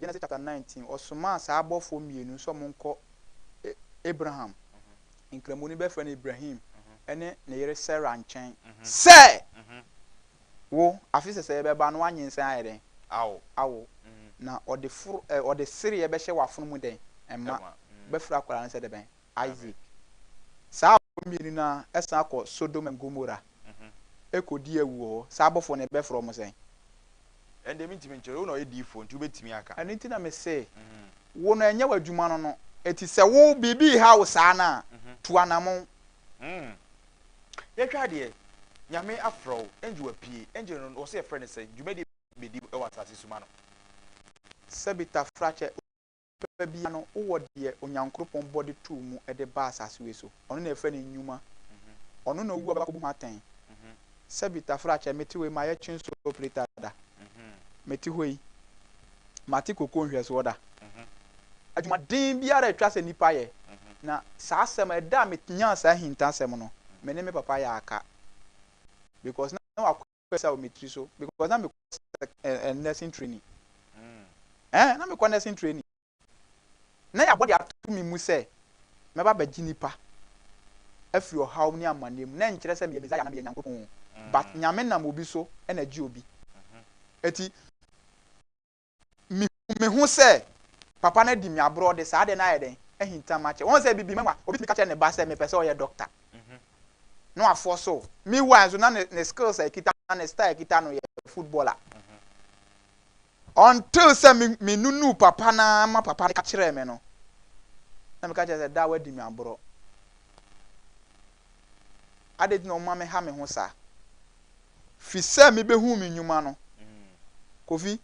Genesis chapter nineteen, ɔsomaa saa abɔfoɔ mmienu sɛ wɔnkɔ Abraham, Nkramoni bɛfrɛ no Ibrahim, ne ne yere Sarah nkyɛn sɛ, Wo, afe sɛsɛɛ bɛba na woanyinsɛn ayɛ dɛn? Awo. Na ɔde foro, ɛ, ɔde sereɛ bɛhyɛ w'afono mu dɛn? Mma. Bɛfrɛ akwadaa no sɛ dɛ bɛn? Isaac. Saa abɔfoɔ mmienu no ara san kɔ Sodom and Gomorrah kɔdi awu wɔ hɔ. Saa abɔfoɔ no yɛbɛfrɛ wɔn sɛn? Ɛnde mentumi nkyerɛ. Wo na ɔyɛ diyifoɔ nti wobɛtumi aka. Ɛno nti na mese wo no ɛnyɛ w'adwuma no no ɛti sɛ wo biribi reha wo saa no a tu anamon. Hmm. Yɛhwɛ adeɛ. Nyame afrɛ wo. Angel apue. Angel no wɔse yɛfrɛ no sɛn? Dwumadie bɛn na ɛdi wɔ asase so ma no? Sɛbi Tafrakyɛ onipa biara no wowɔ deɛ Onyankropɔn bɔ de too mu de ba asase wei so. Ɔno na yɛfrɛ no nnwuma. Ɔno na owuo abɛkɔbu ho atɛn. Sɛbi tafrakyɛ mete wei mayɛ kyinso operator da. Mete hɔ yi mate koko nhwɛsoɔ da. Adwumaden biara a ɛtwa sɛ nipa yɛ. Na saa asɛm ɛda a menyaa saa ahintasɛm no me ne me papa yɛ aka because na wakɔ pesa wɔ me tiri so because na mekɔ eh, eh, nursing training eh, na mekɔ nursing training na yɛabɔ de ato me mu sɛ mɛba bɛgye nipa afiri ɔhaw ne amanneɛ mu na ɛnkyerɛ sɛ meyɛ Messiah na meyɛ Nyankopɔn but Nyame nam obi so na gye obi eti Mihu me ho sɛ papa no adi me aborɔ de saa adeɛ no ayɛ dɛn? Ahinta m'akyɛ. Wahu sɛ bibi mɛwa. Obi tumi ka kyerɛ ne ba sɛ mepɛ sɛ ɔyɛ dɔkta na wafoɔ so. Meanwhile nso na ne skills a ɛkita no, ne star a ɛkita no yɛ footballer. Until sɛ menunuu papa no ara ma papa no ka kyerɛɛ me no, na meka kyerɛ sɛ daa wadi me aborɔ. Adɛn nti na wɔma me ha me ho saa? Fi sɛ mebɛhuu me nnwuma no, Kofi,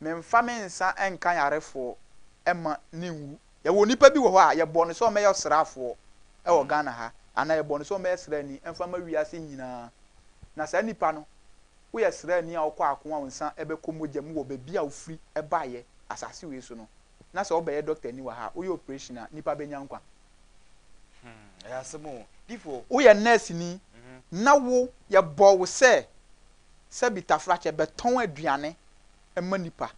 memfa me nsa nka yarefoɔ mma ne nwu. Yɛwɔ nipa bi wɔ hɔ a, yɛbɔɔ no sɛ ɔmmɛyɛ ɔsraafoɔ wɔ Ghana ha, anaa yɛbɔɔ no sɛ ɔmmɛyɛ sraani mfa mma wiase nyinaa. Na saa nipa no, woyɛ sraani a wokɔ ako a wo nsa bɛkɔ mogya mu wɔ baabi a wofiri baeɛ, asase wei so no. na sɛ wobɛyɛ dɔktani wɔ ha a, woyɛ operation a, nnipa bɛnya nkwa. Hmm, ɛyɛ asɛm o. Difo. Woyɛ nɛɛseni mhm. na wo yɛbɔ wo sɛ sɛ bi tafrakyɛ bɛtɔn aduane ma nipa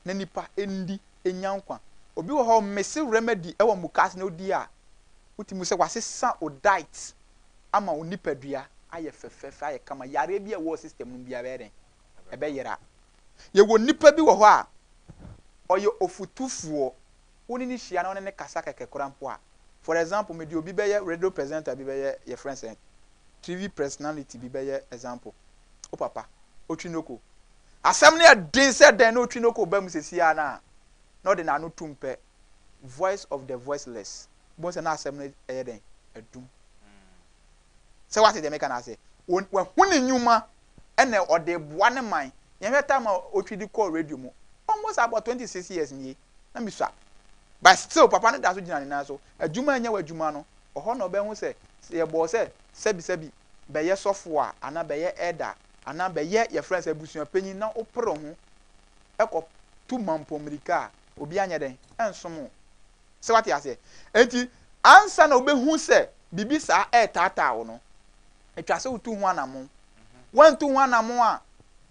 na nipa ndi nya nkwa. Obi wɔ hɔ mese remedy wɔ mukas na odi a wotumi sɛ wasesa o diet ama wo nipadua ayɛ fɛfɛɛfɛ ayɛ kama yareɛ bi a ɛwɔ system no biara bɛyɛ dɛn ɛbɛyera. Yɛwɔ nipa bi wɔ hɔ a, ɔyɛ ɔfutufoɔ, wo ne no hyia na wo ne no kasa kɛkɛ koraa mpo a, for example, mede obi bɛyɛ radio presenter bi bɛyɛ yɛfrɛ no sɛn, TV personality bi bɛyɛ example, wo papa, Otwinoko. Asɛm no yɛ den sɛ dɛn na Otwinoko ba mu sesie ara no a, na ɔde n'ano tum pɛ, voice of the voiceless. Wobɛhu sɛ na asɛm no yɛ dɛn? Adum. Sɛ woate deɛ meka no ase. Wɔn, wahu ne nnwuma ɛna ɔde boa ne man. Yɛnhwɛ time a Otwidi kɔɔ radio mu. Almost about twenty six years nie, na misua. But still papa no da so gyina ne nan so. Adwuma a ɛnyɛ w'adwuma no, ɛhɔ na ɔbɛhu sɛ, sɛ yɛbɔɔ sɛ sɛbi sɛbi bɛyɛ sɔfo a, anaa bɛyɛ elder, anaa bɛyɛ yɛfrɛ no sɛ abusua panyin na wopere wo ho kɔ tu mampɔn mmirika a, obiara nyɛ dɛn? Ɛnsom wo. So woate aseɛ? Enti ansa na wobɛhu sɛ biribi saa retaataa wo no, ɛtwa sɛ wotu ho anammɔn. Woantu ho anammɔn a,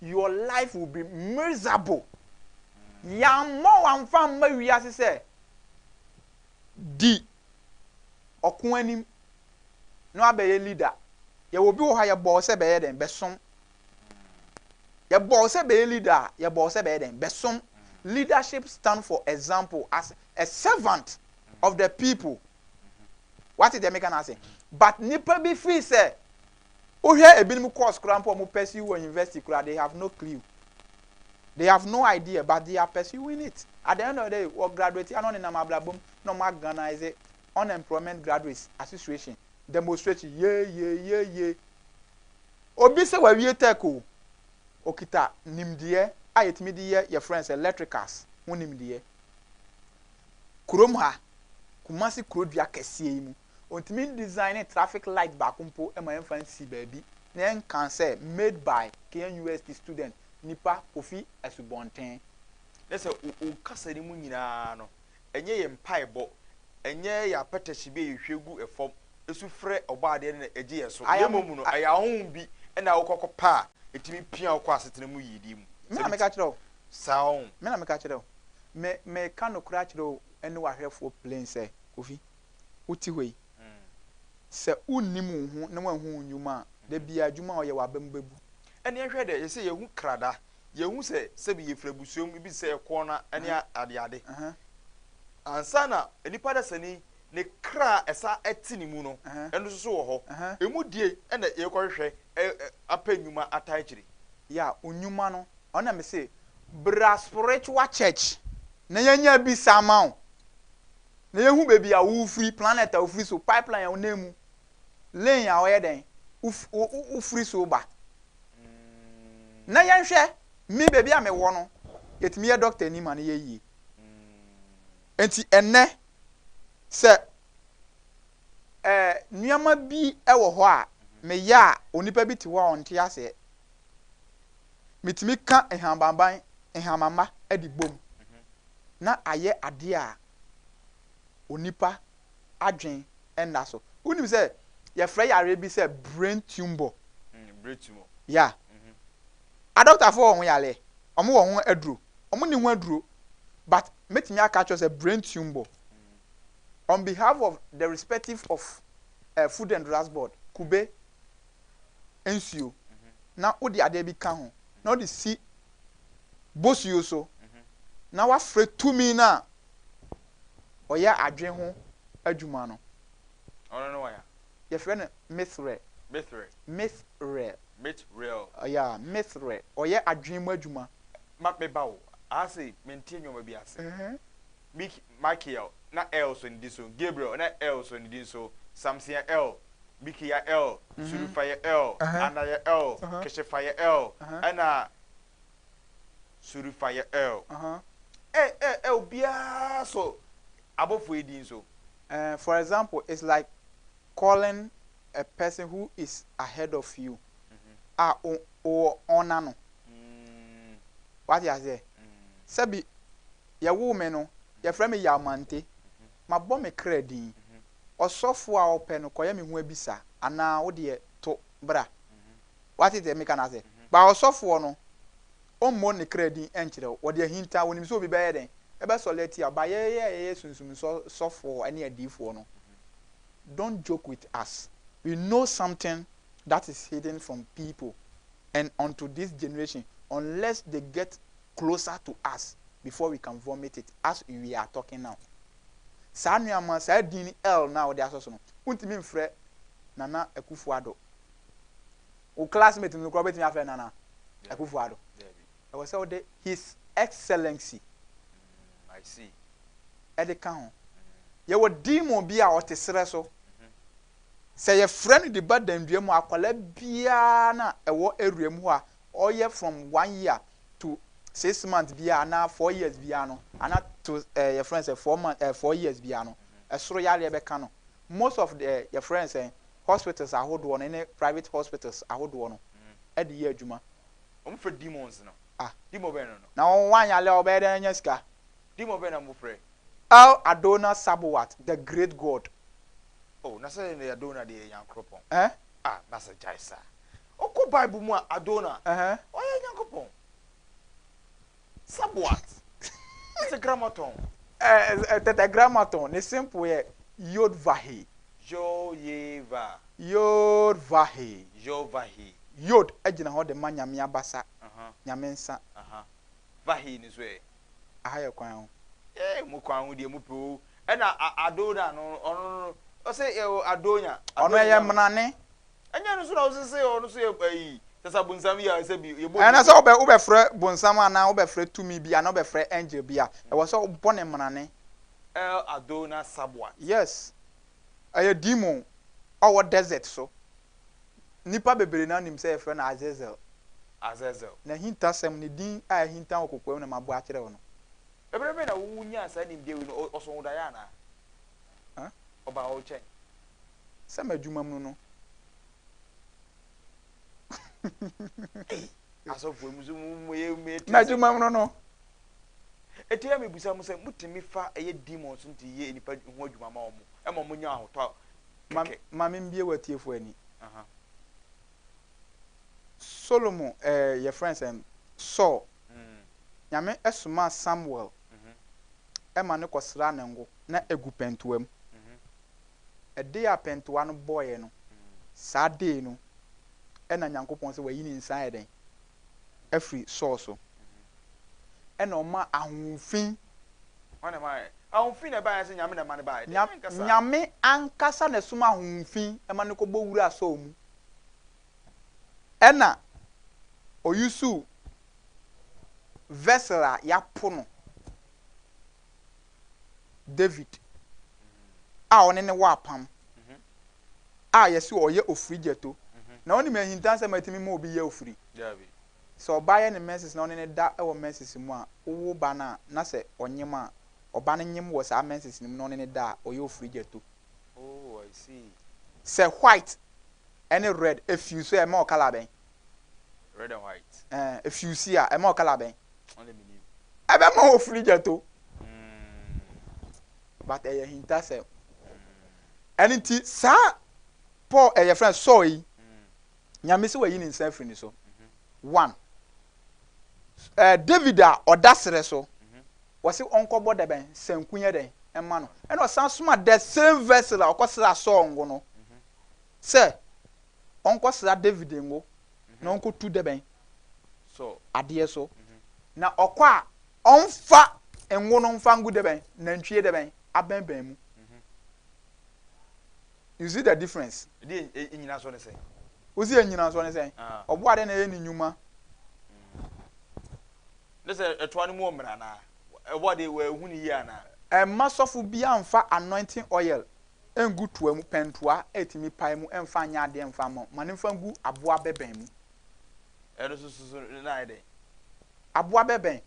your life will be miserable. Yɛammɔ wo amfa amma wiase sɛ di ɔko anim na woabɛyɛ leader. Yɛwɔ obi wɔ hɔ a yɛbɔɔ sɛ bɛyɛ dɛn? Bɛsom yɛbɔ wo sɛ bɛyɛ leader a yɛbɔ wo sɛ bɛyɛ dɛn bɛsom leadership stand for example as a servant of the people wate deɛ meka no ase but nipa bi firi sɛ wohwɛ ebinom course koraa mpo ɔmo pursue wɔ university koraa they have no clue they have no idea but they are pursuing it at the end of the day wɔ graduate ano nenam abrabom na ɔmo organize Unemployment Graduates Association demonstration yeeyeeyeeye Obi sɛ wawie tech o, okita nimdeɛ a yɛtumi de yɛ yɛfrɛ no sɛ electricals ho nimdeɛ Kurom ha, Kumasi kurodua kɛseɛ yi mu, ɔntumi ndesigne traffic light baako mpo ma yɛmfa nsi baabi na yɛnka sɛ made by Kenyan University student, nipa, Kofi Asubɔnten. Kyerɛ sɛ wo kasa no mu nyinaa no, Ɛnyɛ yɛn mpaebɔ, ɛnyɛ yɛn apɛtɛhye bi a yɛhwie gu fam su frɛ Ɔbɔadeɛ no na egye yɛn so, na mmom no, ɛyɛ ahonhom bi na wokɔ kɔpɛ a etumi pia wo kɔ asetena mu yiyedi mu. Me na meka kyerɛ wo. Saa ɔn. Me na meka kyerɛ wo. Me, meka nokorɛ akyerɛ wo ne w'ahwɛfoɔ plen sɛ, Kofi, wote hɔ yi, sɛ wonnim wo ho na woanhu wo nnwuma a, da biara adwuma a woyɛ w'aba mu bɛbu. Ɛnneɛ hwɛ dɛ, yɛsɛ yɛhu krada yɛhu sɛ sɛbi yɛfiri abusua mu ebi sɛ ɛkoɔ no ne adeade ansa na nipa dasani ne kra ɛsa ɛte ne mu no ɛno nso wɔ hɔ ɛmu die ɛna yɛkɔhwehwɛ apɛ nnwuma ata akyiri ya nnwuma no ɔna me se bra spiritual church na yɛnya bi sa ama wo na yɛhu baabi a wofiri planet a wofiri so pipeline a wonam mu lane a ɔyɛ dɛn wofiri so ba na yɛnhwɛ me baabi a mewɔ no yɛtumi yɛ doctor ni ma no yɛ yie nti ɛnɛ sɛ ɛɛ nneɛma bi wɔ hɔ a meyɛ a onipa bi te hɔ a ɔnte aseɛ metumi ka nhabanban nhamama de bom na ayɛ adeɛ a onipa adwen nna so. Wonim sɛ yɛfrɛ yareɛ bi sɛ brain tumour. Mm, brain tumour. Ya. Mm -hmm. Adɔktafoɔ wɔ ho yareɛ, wɔn wɔ ho aduro, wɔn ni ho aduro, but mɛtumi aka kyerɛ sɛ brain tumour. Mm. On behalf of the respective of uh, Food and Drugs Board, kube, nsuo, mm -hmm. na wode adeɛ bi ka ho, na wode si bosuo so, mm -hmm. na wafrɛ tumi no a ɔyɛ adwene ho adwuma no, wɔfrɛ no Mithrael. Mithrael. Yeah, Mithrael. Ɔyɛ adwene mu adwuma. Ma meba wo. Ase mente nneɛma bi ase. Mik Michael na El so ne din so. Gabriel na El so ne din so. Samson yɛ El. Miki yɛ El. Surifa yɛ El. Ana yɛ El. Keshefa yɛ El. Ɛna Suri fa yɛ ɛl. Ɛ ɛ ɛ obiara sɔ abɔfoɔ yi din so. Ɛɛ for example it's like calling a person who is ahead of you a o owɔ ɔn n'ano. W'ate aseɛ? Sɛbi yɛwoo me no yɛfrɛ me Yawmante mabɔ me kra din. Ɔsɔfoɔ a ɔpɛ no kɔyɛ me ho abisa anaa wo deɛ to bra. Wɔate deɛ meka no ase. But ɔsɔfoɔ no, ɔmmɔ ne kra din nkyerɛ wo. Wɔde ahinta, wɔnim sɛ obi bɛyɛ dɛn? Ɛbɛsɔre atia wo. But yɛn a yɛyɛ sunsum nsɔ sɔfoɔ ne adiyifoɔ no, don't joke with us. We know something that is hidden from people and unto this generation unless they get closer to us before we can vomit it as we are talking now. Saa nuamma, saa din El no a wode asɔ so no, wontumi mfrɛ Nana Akufo-Addo. wo classmate no kora wobɛtumi afrɛ nana akufo ado ɛwɔ sɛ wode his excellency mm, ɛde ka ho yɛwɔ demon bi a ɔte serɛ so sɛ yɛfrɛ no de ba dandua mu akwala biara na ɛwɔ awura mu hɔ a ɔyɛ from one year to six months biara anaa four years biara no ana to ɛɛ eh, yɛfrɛ no sɛ four months ɛɛ eh, four years biara no ɛsoro yareɛ bɛka no most of the yɛfrɛ no sɛn hospitals ahodoɔ no ne private hospitals ahodoɔ no de yɛ adwuma. Wɔn frɛ demons no. Ah. Demon bɛn no no. Na wɔn wanyale a wɔbɛyɛ dɛn anya sika. Demon bɛn na wɔn frɛ. El Adona Sabowat the great God. Oh na sɛ yɛ Adona deɛ yɛ Nyankoropɔn. Eh. Ah na sɛ gyae saa. Ɔkɔ bible mu a Adona. Ɛhɛn. Ɔyɛ Nyankopɔn. Saboat, ɔse Grammaton. Ɛɛ Tetragrammaton, ne simple yɛ Yodvahe. Yoyeva. Yodvahe. Yovahe. Yod gyina hɔ de ma Nyame abasa, Nyame nsa. Aha. Vahe no nso ɛ? Aha yɛ kwan ho. Ee, mo kwan ho deɛ mo pɛ o. Ɛna Adona no, ɔno no, ɔse Adonya. Ɔno ɛyɛ mena ne. Ɛnyɛ ɛno nso na wosese ɔno nso yɛ ayi kyɛ sɛ abonsam yi a sɛ bi yɛbɔ ne ɛna sɛ wobɛ wobɛfrɛ bonsam anaa wobɛfrɛ tumi bi anaa wobɛfrɛ angel bi a ɛwɔ sɛ wobɔ ne mmrane el adona sabwat yes ɛyɛ demon ɔwɔ desert so nnipa bebree na nim sɛ yɛfrɛ no azazel azazel n'ahintasɛm ne din a ahinta wɔ kokoam na mabɔ akyerɛ wo no ɛberɛ bɛn na wonyaa saa nimdeɛ wei no ɔ- ɔsɔhodaeɛ anaa a. Ɔbaa wo nkyɛn sɛ m'adwumam no no. Ei, asɔfoɔ mu nso mo mo yɛ mo yɛ ti ase. M'adwumam no no. Eti a mebisa mo sɛ motumi fa ɛyɛ demon so nti yɛ nnipa ho adwuma ma wɔn ɛma wɔn nya ahotɔ kɛkɛ. Ma me mbie w'atiefoɔ ani. Solomon ɛɛ yɛfrɛ no sɛn Saul. Nyame somaa Samuel ma no kɔsraa ne ngo. Na egu pɛntoa mu. Ɛde a pɛntoa no bɔeɛ no, saa dee no na Nyankopɔn sɛ wayi ne nsa ayɛ dɛn? Afiri Saul so. Ɛna ɔmaa ahohomfin. Hwan na ɛmaeɛ? Ahohomfin na ɛbaeɛ anaasɛ Nyame na ɛma no baeɛ? Nyame ankasa. Nyame ankasa na ɛsomaa ahohomfin ma no kɔbɔ wuraa Saul mu. Ɛna ɔyusuw vessel a yɛapo no David a ɔne ne wɔ apam a yɛse ɔyɛ ofiri gyɛto. Na wonim ahintansɛm a ɛtumi ma obi yɛ ofiri? Sɛ ɔbaa yɛ ne menses na ɔne no da wɔ menses mu a, wowo ba no a, na sɛ ɔnyem a, ɔba no nyem wɔ saa menses no mu na ɔne no da a, ɔyɛ ofiri gyɛto. Oh I see. Sɛ white ɛne red ɛfuse a ɛma wɔ colour bɛn? Red and white. Ɛɛ ɛfuse a ɛma wɔ colour bɛn? Ɔne mi nim. Ɛbɛma wɔ flijet o. Mm. But ɛyɛ hintasɛm. Mm. Ɛne nti saa Paul ɛyɛ fɛn sɔɔ yi. Mm. Nyame se wayi ne nsa afiri ne so. One, eh, David a ɔda serɛ so, wɔse ɔnkɔbɔ da bɛn sanku nyɛ dɛn ɛma no, ɛna ɔsan soma the same vessel a ɔkɔsra Saul ngo no sɛ ɔnkɔsra David ngo na ɔnkɔtu da bɛn adeɛ so na ɔkɔ a ɔmfa ngo no mfa ngu da bɛn nantwie da bɛn abɛnbɛn mu. You see the difference? Di nnyinasoɔ ne sɛn? Wosi yɛ nnyinasoɔ ne sɛn? Ɔboa dɛn na ɛyɛ ne nnwuma? Ne sɛ ɛtoa no mu wɔ mmerɛ anaa? Ɛboa de wɔahu ne yie anaa? Ɛmma sɔfo biara mfa anointing oil ngu toa mu, pɛntoa a ɛtumi pae mu mfa nyɛ adeɛ mfa mma wo. Ma no mfa ngu aboa bɛbɛn mu. Ɛno nso so na ayɛ dɛn? Aboa bɛbɛn,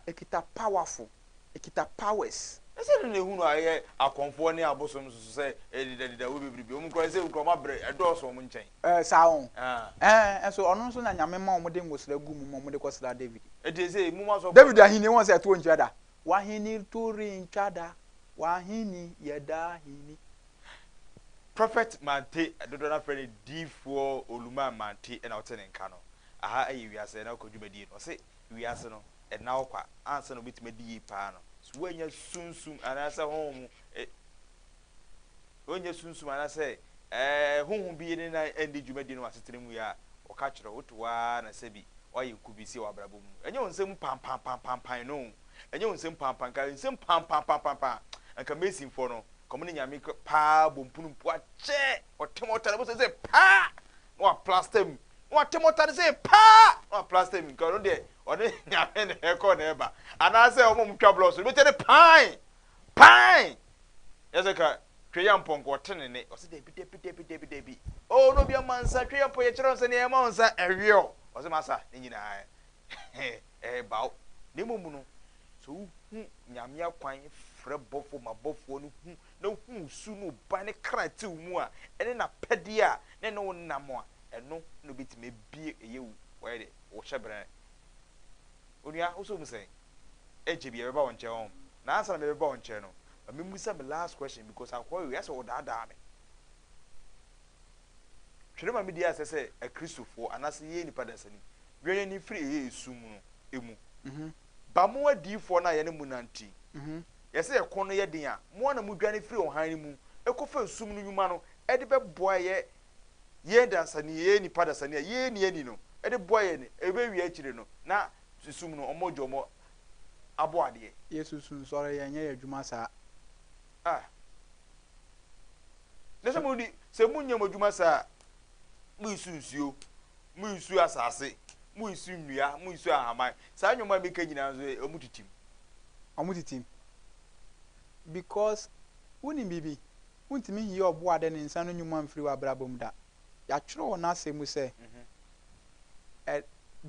ɛkita powerful. Ɛkita powers. Na sɛ ɛno na ehunu a ɛyɛ akɔmfoɔ ne abosom nso so sɛ ɛrededadeda wɔ bebrebe. Wɔn nkurɔfoɔ, ɛsɛ nkurɔfoɔ abrɛ, ɛdɔɔso wɔn nkyɛn. Ɛɛ, saa ho. Ɛɛ, nso ɔno nso na Nyame ma wɔde ngosra gu mu ma wɔde kɔsra David. Ɛdeɛ sɛ emu ma sɔfoɔ. David ahennie wɔn sɛ ɛtoɔ ntwa da. W'ahennie to rentwa da. W'ahenni yɛ daa henni. Prophet Mante, dodoɔ no ara frɛ no Diifoɔ Oluman Mante na ɔte ne nka no. Aha yɛ wiase ɛna ɔkɔ dwumadie no. Ɔse wiase no, ɛnna hɔ kwa ansa na obetumi adi yiye paa no. So woanya sunsum anaasɛ honhom mu eh, woanya sunsum anaasɛ eh, honhom bi ne nan andi dwumadi no wɔ asetena mu yi a ɔka kyerɛ wo? Wote hɔ ara na sɛbi woayɛ nkubisi wɔ abrabɔ mu. Ɛnyɛ wo nsam pampampampampan no, ɛnyɛ wo nsam pampan, nka nsam pampampampampan, anka Masonfoɔ no, nka wɔn ne Nyame paa bɔ mpunumpu akyɛ, wɔte wɔn ɔtare mu sɛ sɛ paa, na wɔaplasta mu. na wɔte motare sei paa na wɔaplaster mu, nka ɔno deɛ ɔne Nyame na ɛkɔ na ɛba, anaasɛ wɔn a wɔtwa blocks no, wobɛtie ne paae! Paae! Yɛ sɛ nka Tweyampɔ nka ɔte ne nne, ɔse dabi dabi dabi dabi dabi, oh na obiara mma nsa, Tweyampɔ yɛkyerɛ wo sɛ nea ɛma wo nsa ɛwe wo, ɔse masa ne nyinaa ɛreba wo, na mmom no sɛ wohu Nyame akwan frɛ bɔfoɔ ma bɔfoɔ no hu na huu su no ba ne kra tew mu a, ɛne n'apɛde a na ɛne wo nam a, ɛno na obetumi abue ɛyɛ wo wɔyɛ dɛ wo hyɛbrɛn. Onua, wo so hu sɛn? Ɛnkyɛ biara mɛba wo nkyɛn hɔ. Na ansa na mɛbɛba wo nkyɛn no, ma mimmisa me last question because akoa wei ayɛ sɛ ɔredaadaa me. Twere ma midi asɛ sɛ Akristofoɔ anaasɛ yɛyɛ nnipa dasani, wia yɛn ani firi ɛyɛ esum no mu. Ba mo adiyifoɔ no a yɛne mo nante yi, Yɛ sɛ ɛko no yɛ den a, mo ara na mudwane firi ɔhan no mu kɔfa esum no nnwuma no de bɛboa yɛ yɛn dasani, yɛyɛ nnipa dasani a yɛn ani ani no de boa yɛn, ɛbɛwie akyire no na esum no ɔmɔ gya ɔmɔ abɔ adeɛ. Yɛ susu nsɔre yɛ nyɛ yɛ adwuma saa. Ah. Na sɛ mo di, sɛ mo nyɛ mo adwuma saa a, Munnsu nsuo, munnsu asase, munnsu nnua, munnsu ahaman. Saa nnwom a meka nyinaa nso, ɛ, wɔtitim. Wɔtitim. Because, wonim biribi? Wontumi nyi Ɔbɔadeɛ ne nsa ano nnwuma mfiri w'abrabɔ mu da. Yɛatwerɛ wɔ N'Asɛm mu sɛ, ɛ,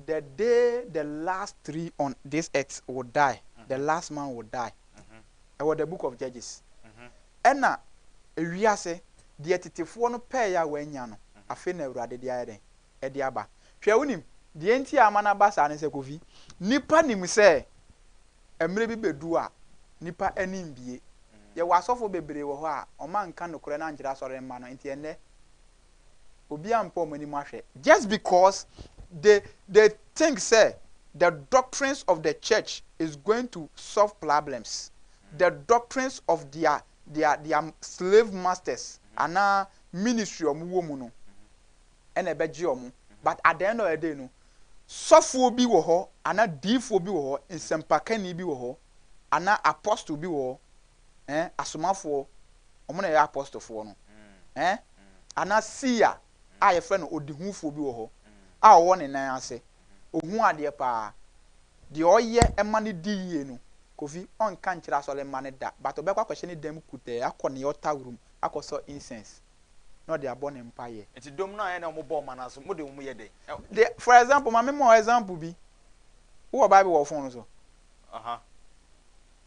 The day the last tree on this earth will die, the last man will die. ɛwɔ The Book of Judges, ɛna ewiase deɛ tetefoɔ no pɛɛɛ a wɔannya no, afei na Awurade de ayɛ dɛn? De aba. Hwɛ, wonim, deɛ nti a ama no aba saa ne sɛ, Kofi, nnipa nim sɛ mmerɛ bi bɛdu a nnipa ani mbue. Yɛwɔ asɔfoɔ bebree wɔ hɔ a wɔanka nokorɛ no ankyerɛ asɔremma no, nti ɛnnɛ Obiara mpa wɔn anim ahwɛ just because they they think sɛ the doctrines of the church is going to solve problems, the doctrines of their their their slave masters anaa ministry a wɔn wɔ mu no ɛna ɛbɛgye wɔn but at the end of the day no sɔfoɔ bi wɔ hɔ anaa diifoɔ bi wɔ hɔ nsɛmpakani bi wɔ hɔ anaa apostle bi wɔ hɔ eh, asomafoɔ, wɔn na ɛyɛ apɔstofoɔ no, eh, ana Sia a yɛfrɛ no ɔdehufoɔ bi wɔ hɔ a ɔwɔ ne nan ase, ɔhu adeɛ paa, deɛ ɔyɛ ma no di yie no, Kofi, ɔnka nkyerɛ asɔre mma no da, but ɔbɛkɔ akɔhyɛ ne dan mu kutɛɛ, akɔ ne altar room akɔsɔ incense na ɔde abɔ ne mpaeɛ. Nti dɔm no a ɛna wɔn bɔɔ mana so, mo de wɔn yɛ dɛn? Deɛ, for example, ma me ma wo example bi, wowɔ bible wɔ wo phone no so? Aha.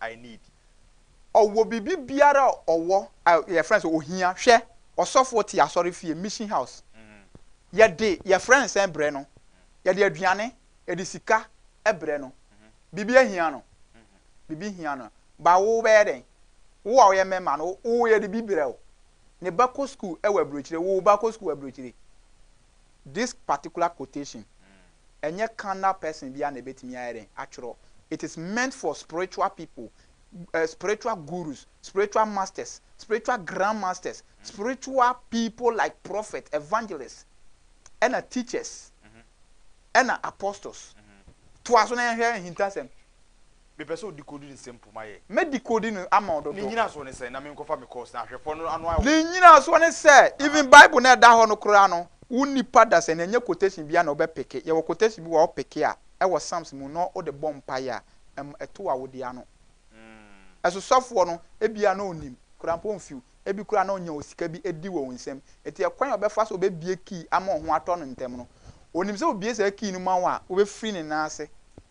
I need. Ɔwɔ biribi biara a ɔwɔ a yɛfrɛ no sɛ ohia. Hwɛ, ɔsɔfoɔ te asɔrefie, mission house. Yɛde, yɛfrɛ no sɛn brɛ no? Yɛde aduane, yɛde sika brɛ no. Biribi ahia no? Biribi hia no. But wo bɛyɛ dɛn? Wo a woyɛ mɛma no, wo yɛde bi brɛ wo. Ne ba kɔ sukuu wɔ aburokyire, wo ba kɔ sukuu wɔ aburokyire. This particular quotation, ɛnyɛ carnal person biara na ɛbɛtumi ayɛ dɛn? Atwerɛ. It is meant for spiritual people, eh, spiritual gurus, spiritual masters, spiritual grand masters, spiritual people like prophet, evangelist, ɛna teachers, ɛna apostles. Toa so na yɛnhwɛ ahintasɛm. Mepɛ sɛ o decode ne nsɛm mpo ma yɛ. Mɛ decode no ama wo dodo. Ne nyinasoɔ ne sɛn? Na me nkɔfa me course na ahwɛ pɔ no ano ayɛ wo. Ne nyinasoɔ ne sɛ, even bible no a ɛda hɔ no koraa no, wo nipa dasani ɛnyɛ quotation biara na wo bɛ picke. Yɛwɔ quotation bi wɔ hɔ a wo picke a, ɛwɔ psalms mu na wo de bɔ mpaeɛ a, ɛma ɛto awode ano. Ɛso sɔfoɔ no, ɛbi a na ɔnim, koraa mpo ɔnfew, ɛbi koraa a na ɔnya osika bi ɛdi wɔ wo nsam. Ɛti ɛkwan a ɔbɛfa so ɔbɛbue key ama wo ho atɔ no ntɛm no, ɔnim sɛ ɔbue saa key no ma wo a, wo bɛ firi ne nan ase.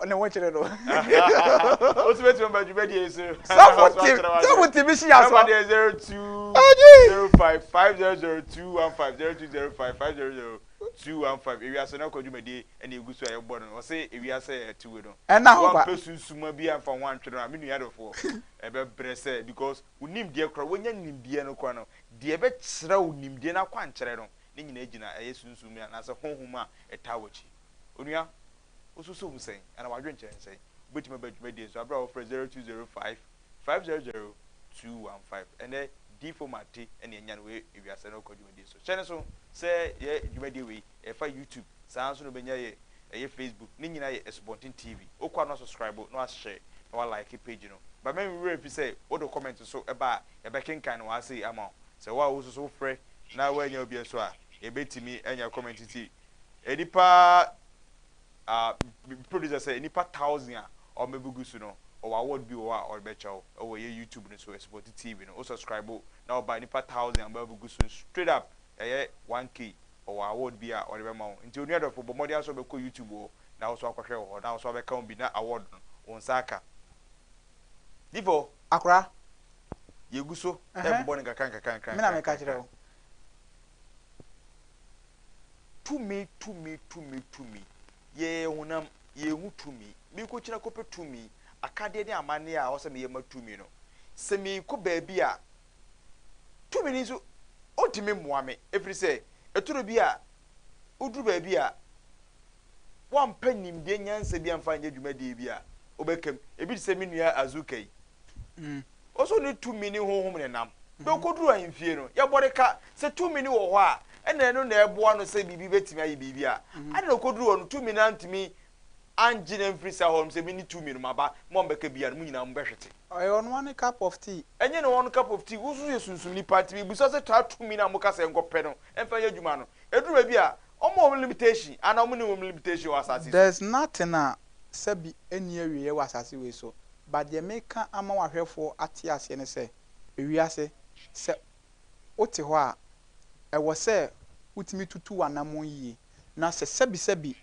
Ɔne wo kyere no. Osu bɛ tuma ba dwuma di esu. Sɔfo ti sɔfo ti bi si yasɔ. Number deɛ zero two zero five five zero zero two one five zero two zero five five zero zero two one five ewiase no akɔ dwuma di ɛna egu so a yɛbɔ no ɔsɛ ewiase yɛ tiwe no. Ɛna hɔ ba. Wɔn pɛ sunsuma bi anfa ho antwere no a mi nua dɔfoɔ ɛbɛ brɛ sɛ because onim deɛ kora wɔnya nim deɛ no kora no deɛ ɛbɛ kyerɛ wo nim deɛ no akɔ ankyerɛ no ne nyinaa gyina ɛyɛ sunsum anaasɛ honhom a ɛtaa wɔkyi onua. Wosusuw ho sɛn, anaa wɔadwen kyerɛ no sɛn? Wobetumi aba dwumadi nso bere a wɔfrɛ 0205 500 215. Ɛnnɛ, diyifo ma ate nea anya no wɔ ewiase no rekɔ dwumadi so. Hyɛ no nso sɛ yɛ dwumadi wei, ɛfa YouTube, saa ara nso na wobenya yɛ, ɛyɛ Facebook, ne nyinaa yɛ Asubɔnten TV. Wokɔ a na wasɔskraibo, na wahyɛ, na walaeke page no. Ba me werɛ mfi sɛ wode wo kɔmɛnt nso ba a, yɛbɛkenkan no ase ama wo. Sɛ wo a wo nso so wofrɛ na woannya obi nso a, yebetumi anya kɔmɛnt ti Nnipa a me producer sɛ nnipa thousand a wɔbɛgugu so no ɔwɔ award bi wɔ hɔ a ɔde bɛkyɛ wo ɛwɔ ɛyɛ YouTube no so ɛsupɔte TV no wo subscribe na ɔba nnipa thousand a wɔbɛgugu so straight up ɛyɛ 1K ɔwɔ award bi a ɔde bɛma wo nti onua dɔfo bɔ mmɔden ara sɛ wobɛkɔ YouTube hɔ na wo nso akɔhwɛ wɔ hɔ na wo nso abɛka ho bi na award no wo nsa aka Difo. Akora. Yɛgu so ɛrebobɔ no nkakra nkakra nkakra. Me na meka kyerɛ wo. Tumi, tumi, tumi, tumi. Yɛyɛ honam, yɛnhu tumi. Merekɔkyini akɔpɛ tumi, akadeɛ ne amanneɛ a ɛwɔ sɛ meyɛ ma tumi no. Sɛ merekɔ baabi a, tumi no nso, ɔntumi mmoa me, ɛfiri sɛ, ɛtɔda bi a, woduru baabi a, woampɛ nimdeɛ nyansa bi amfa anyɛ dwumadie bi a, wobɛka mu. Ɛbi te sɛ me nua Azuka yi. Ɔsoro no tumi ne honhom na ɛnam. Bere a okoduruu ahemfie no, yɛbɔ no ka sɛ tumi no wɔ hɔ a, ɛnna ɛno na ɛboa no sɛ biribi betumi ayɛ biribi a. Ade na okoduruu hɔ no, tumi no antumi angye no amfiri saa hɔ nom sɛ, Me ne tumi no, maba, mo a mobɛka biara no, mo nyinaa mobɛhwete. Ɛyɛ ɔno ara ne cup of tea. Ɛnyɛ ne one cup of tea. Wo nso yɛ sunsumni paa, nti mibisa sɛ saa tumi no a moka sɛ nkɔpɛ no mfa nyɛ adwuma no, ɛduru baabi a, wɔn wɔ limitation anaa wɔn nni wɔn limitation wɔ asase so? There's nothing a sɛbi ɛnni awieɛ wɔ asase wei so. But deɛ meka ama w'ahwɛfoɔ ate aseɛ ne sɛ, ewiase, sɛ wote hɔ a, ɛwɔ sɛ wotumi tutu w'anammɔn yie, na sɛ sɛbisɛbi,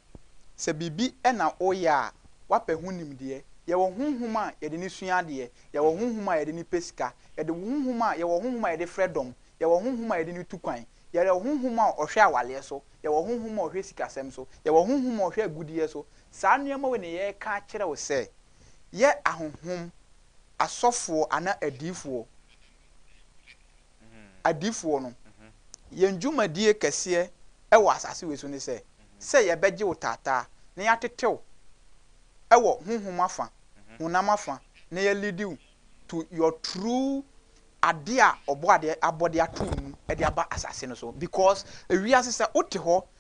sɛ biribi na woyɛ a, woapɛ ho nimdeɛ. Yɛwɔ honhom a yɛde no sua adeɛ, yɛwɔ honhom a yɛde no pɛ sika, yɛde honhom a, yɛwɔ honhom a yɛde frɛ dɔm, yɛwɔ honhom a yɛde no tu kwan, yɛwɔ honhom a ɔhwɛ awareɛ so, yɛwɔ honhom a ɔhwɛ sikasɛm so, yɛwɔ honhom a ɔhwɛ agudeɛ so. Saa nneɛma wei na yɛreka akyerɛ wo sɛ, yɛ ahonhom, asɔfoɔ anaa adiyifoɔ, adiyifoɔ no, yɛn dwumadie kɛseɛ wɔ asase wei so ne sɛ, sɛ yɛbɛgye wo taataa na yɛatete wo wɔ honhom afa, honam afa, na yɛalidi wo to your true adeɛ a Ɔbɔadeɛ abɔdeɛ ato wo mu de aba asase no so, because wiase sɛ wote hɔ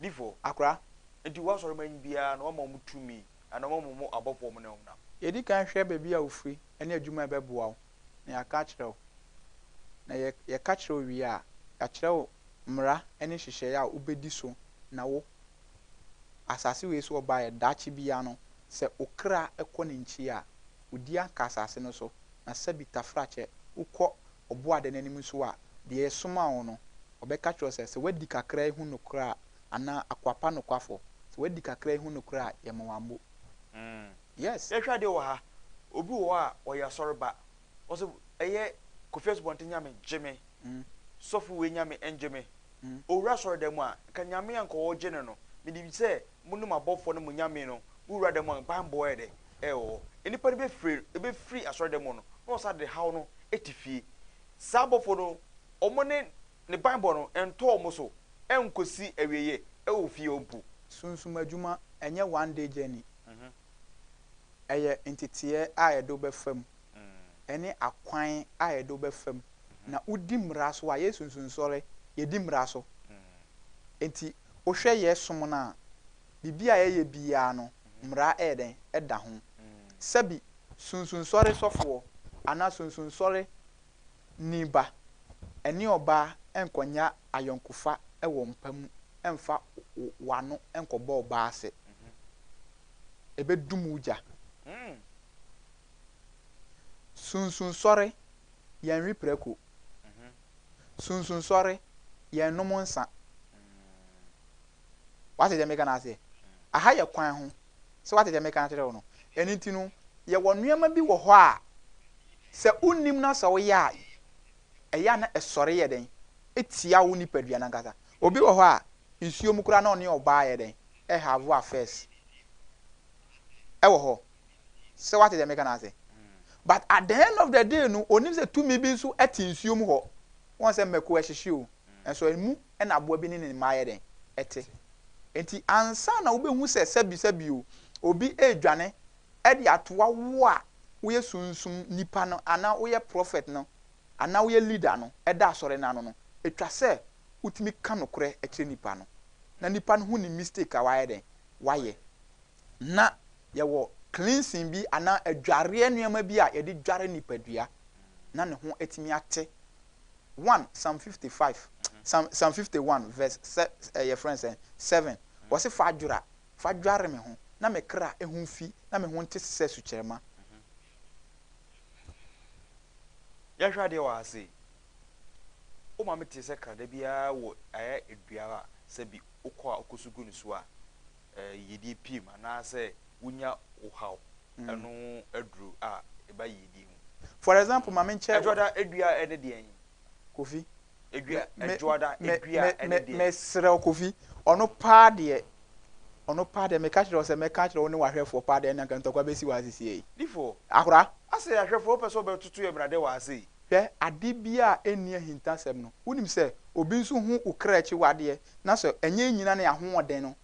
Difoɔ. Akora. Enti wo asɔre manyi biara na wama wɔn tumi anaa wama wɔn abɔfoɔ wɔn ne wɔn nam. Yɛdi kan hwɛ baabi a wofiri ne adwuma a ɛbɛboa wo na yɛaka akyerɛ wo. Na yɛ yɛka kyerɛ wo wie a, yɛakyerɛ wo mmara ne nhyehyɛeɛ a wobɛdi so na wo asase wei so ɔbaeɛ daakye biara no sɛ wo kra kɔ ne nkyia a, wodi anka asase no so na sɛbi tafrakyɛ wokɔ ɔbo ade n'anim nso a, deɛ yɛsomaa wo no, ɔbɛka akyerɛ wo sɛ, sɛ woadi kakra yi ho nokorɛ a, anaa akoa pa nokwafoɔ, sɛ woadi kakra yi ho nokorɛ a, yɛma wo abo. Yes. Yɛhwɛ adeɛ wɔ ha, obi wɔ hɔ a, ɔyɛ asɔre ba, ɔse, ɛyɛ Kofi Asubɔnten Nyame gye me, sɔfo wei Nyame ngye me, ɔwura asɔre dan mu a, nka Nyame a nka ɔɔgye no no, menim sɛ, mo ne mo abɔfoɔ ne mo Nyame no, mo wura dan mu a, mo mpaebɔ yɛ dɛ, ɛwɔ hɔ. Nnipa no bɛfiri bɛfiri asɔredan mu no, na wɔsan de haw no te fie. Saa abɔfoɔ no, wɔn ne ne banbɔ no ntɔ wɔn so nkɔsi awieeɛ wɔ fie hɔ mpo. Sunsum adwuma nyɛ one day journey. Ɛyɛ nteteɛ a yɛde wo bɛfa mu, ɛne akwan a yɛde wo bɛfa mu. Na wodi mmara so a, yɛ Sunsum Nsɔre, yɛdi mmara so. Enti wohwɛ yɛ som no a, biribi a yɛyɛ biara no, mmara yɛ dɛn? Ɛda ho. Sɛbi sunsunsɔre sɔfoɔ anaa sunsunsɔre ni ba, ɛne ɔbaa nkɔnya ayɔnkofa wɔ mpa mu mfa w'ano nkɔbɔ ɔbaa ase. Ɛbɛdum wo gya. Sunsunsɔre, yɛnwe prako. Sunsunsɔre, yɛnnom nsa. Wate deɛ meka no aseɛ? Aha yɛ kwan ho. Sɛ wate deɛ meka akyerɛ wo no? Ɛno nti no, yɛwɔ nneɛma bi wɔ hɔ a, sɛ wonnim na sɛ woyɛ a, ɛyɛ a na ɛsɔre yɛ dɛn? Tia wo nipadua no ankasa. Obi wɔ hɔ a, nsuo mu koraa na ɔne ɔbaa yɛ dɛn? Ɛhave affairs. Ɛwɔ hɔ. Sɛ wate deɛ meka no ase? But at the end of the day no, onim sɛ tumi bi nso te nsuo mu hɔ. Wɔn sɛ mmako ɛhyehye o, nso ɛmu na aboa bi ne ne mma yɛ dɛn? Te. Enti ansa na wubehu sɛ sɛbisɛbi o, obi redwane de atoa wo a woyɛ sunsum nipa no anaa woyɛ prɔfɛt no anaa woyɛ leader no da asɔre no ano no, etwa sɛ wutumi ka nokorɛ kyerɛ nipa no, na nipa no ho nim mistake a wayɛ dɛn? Wayɛ. Ná yɛwɔ cleansing bi anaa adwareɛ nneɛma bi a yɛde dware nipadua na ne ho atumi ate one psalm fifty five psalm psalm fifty one verse sɛ ɛyɛ eh, friend sɛ seven wɔsi fa adwora fa dware me ho na me kra ehu fi na me ho nte sɛ sukyerɛma. yɛhwɛ adeɛ wɔ ha sei wo maame te sɛ krada biara wɔ ayɛ aduara a sɛ bi wokɔ a wokɔ so gu no so a eh, yɛdie piem anaasɛ wonya wohaw ɛno ho aduru a ɛba yiedie mu. For example, ma menkyɛ. Adwoada dua ne deɛn? Kofi. Dua, adwoada dua ne deɛn? Mesrɛ wo Kofi, ɔno paa deɛ, ɔno paa deɛ, meka kyerɛ wo sɛ mɛka akyerɛ wo ne w'ahwɛfoɔ paa deɛ ɛne anka ntɔkwa bɛsi wɔ ha sesie yi. Difo. Akora. Asɛ ahwɛfoɔ wopɛ sɛ wobɛtoto yɛn brade wɔ ha sei? Hwɛ, ade biara a ɛnni ahintasɛm no, wonim sɛ obi nso hu wo kra akyiwadeɛ, na sɛ ɛnyɛ nnyina ne ahoɔden no,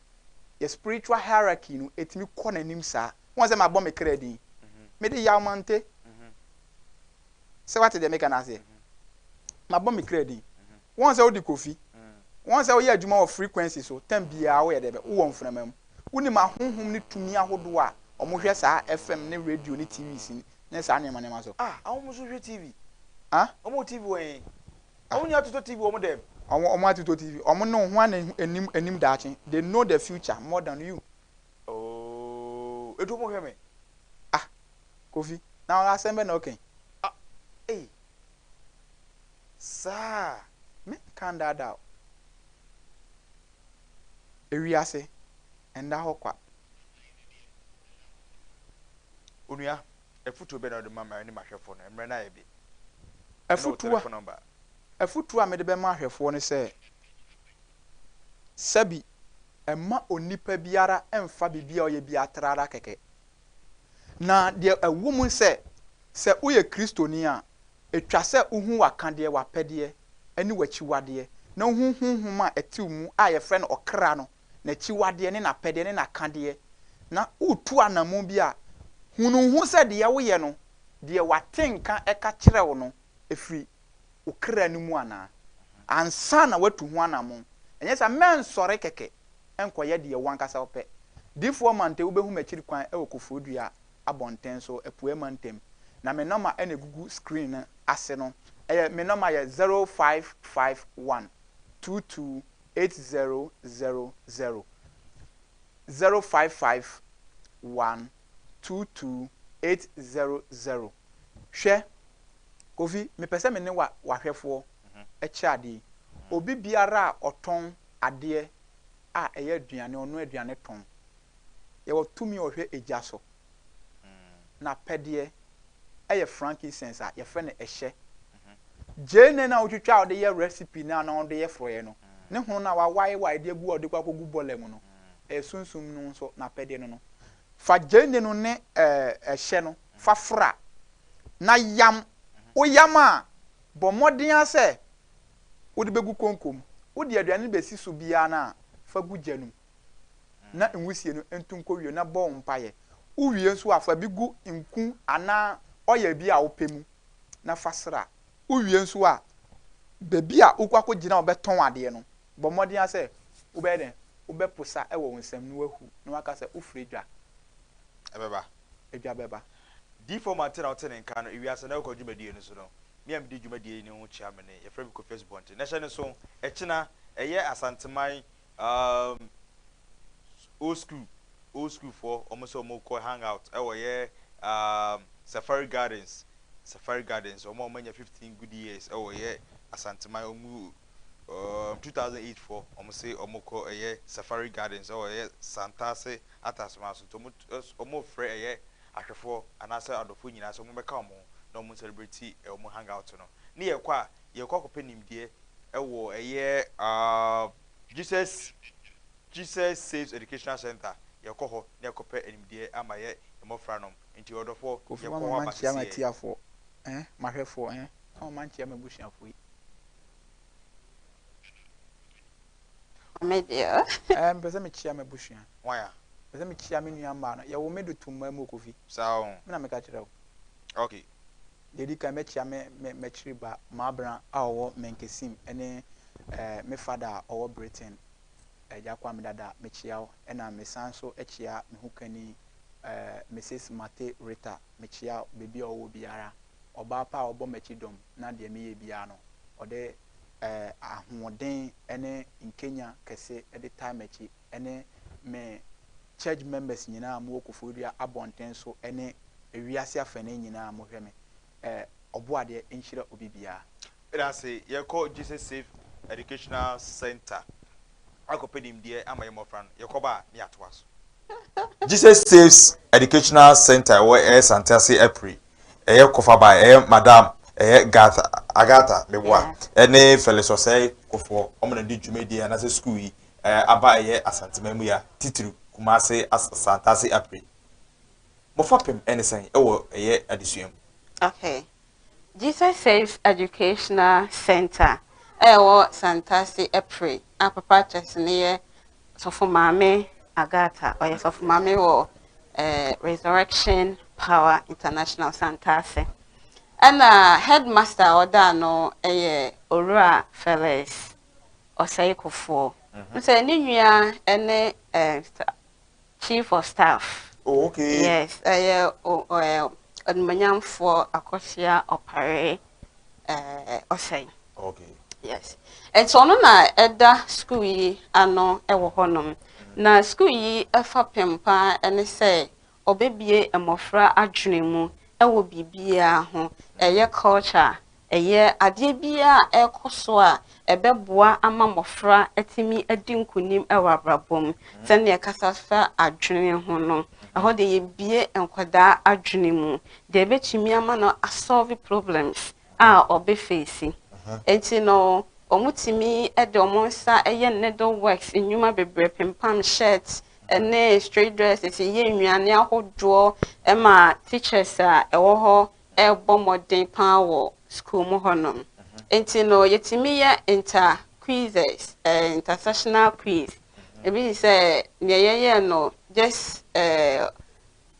yɛ spiritual hierarchy no ɛtumi kɔ n'anim saa. Woahu sɛ mabɔ me kra din? Mede yaw mante sɛ woate deɛ meka no aseɛ? Mabɔ me kra din. Woahu sɛ wode Kofi? Woahu sɛ woyɛ adwuma wɔ frequency so tam biara woyɛ dɛbɛ, wowɔ mframa mu. Wonim ahonhom ne tumi ahodoɔ a wɔhwɛ saa FM ne radio ne TV sin ne saa nneɛma nneɛma so? Ah, ahonhom nso hwɛ TV? Ah? Wɔwɔ TV wɔ he? Awo nni atoto TV wɔ ɔmo dɛm. Ɔmo ɔmo atoto TV ɔmo ne wo hwan na ehu enim enim daakye they know the future more than you. Ooh edu mo hwɛ me. Ah Kofi na asɛm bɛ na ɔka yi. Ah ei saa me nka ndaadaa wo. Ewiase nda hɔ kwa. Onua Afotuo bɛn na wode bɛma me ne m'ahwɛfoɔ no? Mmerɛ no ayɛ be. Ɛne wo telefon nɔmba. Afotuo a mede bɛma ahwɛfoɔ ne sɛ, Sɛbi, mma onipa biara mmfa biribi a ɔyɛ biara trara kɛkɛ. Na deɛ ɛwɔ mu ne sɛ, sɛ woyɛ Kristoni a, ɛtwa sɛ wohu w'akadeɛ, w'apɛdeɛ, ne w'akyiwadeɛ, na wohu honhom a ɛte wo mu a yɛfrɛ no ɔkra no. n'akyiwadeɛ ne n'apɛdeɛ ne n'akadeɛ, na wotu anammɔn bi a, hunu ho sɛ deɛ woyɛ no, deɛ w'atenka ka kyerɛ wo no firi wo kra no mu anaa, ansa na woatu ho anammɔn. Ɛnyɛ saa a, mɛnsɔre kɛkɛ nkɔyɛ deɛ w'ankasa wopɛ. Difoɔ Mante, wobɛhu m'akyiri kwan wɔ Koforidua abɔnten so, Apueɛ Mantam. Na me nɔma na ɛgugu screen no ase no. Ɛyɛ, me nɔma yɛ zero five five one two two eight zero zero zero zero five five one two two eight zero zero Hwɛ, Kofi, mepɛ sɛ me ne wa, w'ahwɛfoɔ kyɛ adeɛ yi. Obi biara a ɔtɔn adeɛ a ɛyɛ aduane, ɔnoa aduane tɔn. Yɛwɔ tumi a ɔhwɛ egya so. n'apɛdeɛ yɛ frankincense a yɛfrɛ no ɛhyɛ. Gyeene no a wotwitwa a wɔde yɛ recipe no a na wɔde yɛ forɔeɛ no, ne hono no a wawaewae de agu a wɔde kɔ akɔgu bɔlɛ mu no, ɛyɛ Sunsum no nso n'apɛdeɛ no no. Fa gyeene no ne ɛhyɛ no fa fra, na yam. Woyam a, bɔ mmɔden ara sɛ wode bɛgu konko mu. Wode aduane no bɛsi so biara no a, fa gu gya no mu. na nwusie no ntu nkɔ wiem na bɔ mpaeɛ. Wowie nso a, fa bi gu nku anaa ɔyɛ bi a wopɛ mu na fa sra. Wowie nso a, baabi a wokɔ akɔgyina a wɔbɛtɔn adeɛ no, bɔ mmɔden ara sɛ wobɛyɛ dɛn? Wobɛposa wɔ wo nsam na woahu na woaka sɛ wofrɛ dwa. Ɛbɛba. Dwa bɛba. Diifo Mante na ɔte ne nka no ewiase na ɔkɔ dwumadie no so no, me a medi dwumadie no ho kyia me ne, yɛfrɛ me Kofi Asubɔnten. Na hyɛ no nso, ɛkyena, ɛyɛ Asanteman Um old school old school foɔ wɔn sɛ wɔn kɔ hang out ɛwɔ yɛ um safari gardens safari gardens wɔn a wɔn anya fifteen good years ɛwɔ yɛ asanteman wɔn mu um two thousand eight foɔ wɔn sɛ wɔn kɔ ɛyɛ safari gardens ɛwɔ yɛ santase ataseman so nti wɔn wɔn frɛ ɛyɛ ahwɛfoɔ anaasɛ adɔfoɔ nyinaa sɛ wɔn bɛka wɔn ho na wɔn celebrate wɔn hang out no ne yɛ kɔ a Yɛkɔ akɔpɛ nimdeɛ wɔ ɛyɛ Jesus Jesus Saves Educational Centre yɛkɔ hɔ na yɛkɔpɛ animdeɛ ama yɛ mmɔfra nom nti ɔdɔfoɔ Kofi yɛkɔ hɔ aba seseɛ. Kofi mama mankyea m'atiafoɔ eh m'ahwɛfoɔ eh mama mankyea m'abusuafoɔ yi. Maame deɛ oh. Eh mepɛ sɛ mekyea m'abusua. Hwan a? Mepɛ sɛ mekyea me nua mmaa no yɛwo me do to mmaa mu o Kofi. Saa o. Me na meka kyerɛ wo. Okay. Deɛ ɛdi kan, mɛkyea me me m'akyiri ba Mabena a ɔwɔ Menkesim ne eh, me fada a ɔwɔ Britain, Agya Kwame Dada, mekyea wo. Ɛna mesan nso kyea me ho kani eh, Mrs. Mate Rita, mekyea wo baabi a ɔwɔ biara. Ɔbaa pa a ɔbɔ m'akyi dɔm na deɛ meyɛ biara no, ɔde eh, ahoɔden ne nkenya kɛse de tae m'akyi ne me Church members nyinaa mo wɔ Koforidua abɔnten so ne wiase afanee nyinaa mo hwɛ me eh Ɔboadeɛ nhyira obi biara. Yɛdase yɛkɔ Jesus Safe Educational Centre akɔpɛ nimdeɛ ama yɛn mmɔfra no, yɛkɔba a ne yɛatoa so. Jesus Safe Educational Centre a ɛwɔ ɛyɛ Sante Ase Apiri, ɛyɛ Kofabae, ɛyɛ Madam ɛyɛ Garth Agatha Meboa ne Phyllis Osei Kofoɔ wɔn na di dwumadie anaasɛ sukuu yi aba ɛyɛ Asanteman mu ya titiriw Kumase Asantase Apre mo fapem ɛne sɛn ɛwɔ ɛyɛ adesua mu. Okay. Jesus Saves Educational Centre a ɛwɔ Santase Apre a papa kyɛse no yɛ Sɔfo Maame Agatha ɔyɛ Sɔfo Maame wɔ eh, Resurrection Power International Santase ɛna headmaster a ɔda ano ɛyɛ Owura Felix ɔsɛekofoɔ. Wohu sɛ ne nua ne chief of staff. Oh, okay. Yes, ɛyɛ ɔnumanyamfoɔ akɔsia ɔpare ɔsɛe. Okay. Yes. Nti ɔno na ɛda sukuu yi ano wɔ hɔnom. Na sukuu yi fapem paa ne sɛ Ɔbɛbue mmɔfra adwene mu wɔ biribiara ho, ɛyɛ culture a, ɛyɛ adeɛ biara a ɛrekɔ so a, ɛbɛboa ama mmɔfra atumi adi nkunim wɔ abrabɔ mu. Sɛdeɛ ɛkasa fa adwene ho no, ɛhɔ deɛ yɛbue nkwadaa adwene mu, deɛ ɛbɛtumi ama no a solve problems a ɔbɛfeesi. Enti no, wɔtumi de wɔn nsa yɛ needleworks nnwuma bebree, pempam shirt ne straight dresses, yɛ nnuane ahodoɔ ma teachers a ɛwɔ hɔ rebɔ mmɔden pa ara wɔ sukuu mu hɔnom. Enti no, yɛtumi yɛ inter quizzes, eh, intersectional quiz. Ebi te sɛ nea yɛyɛɛ no just eh,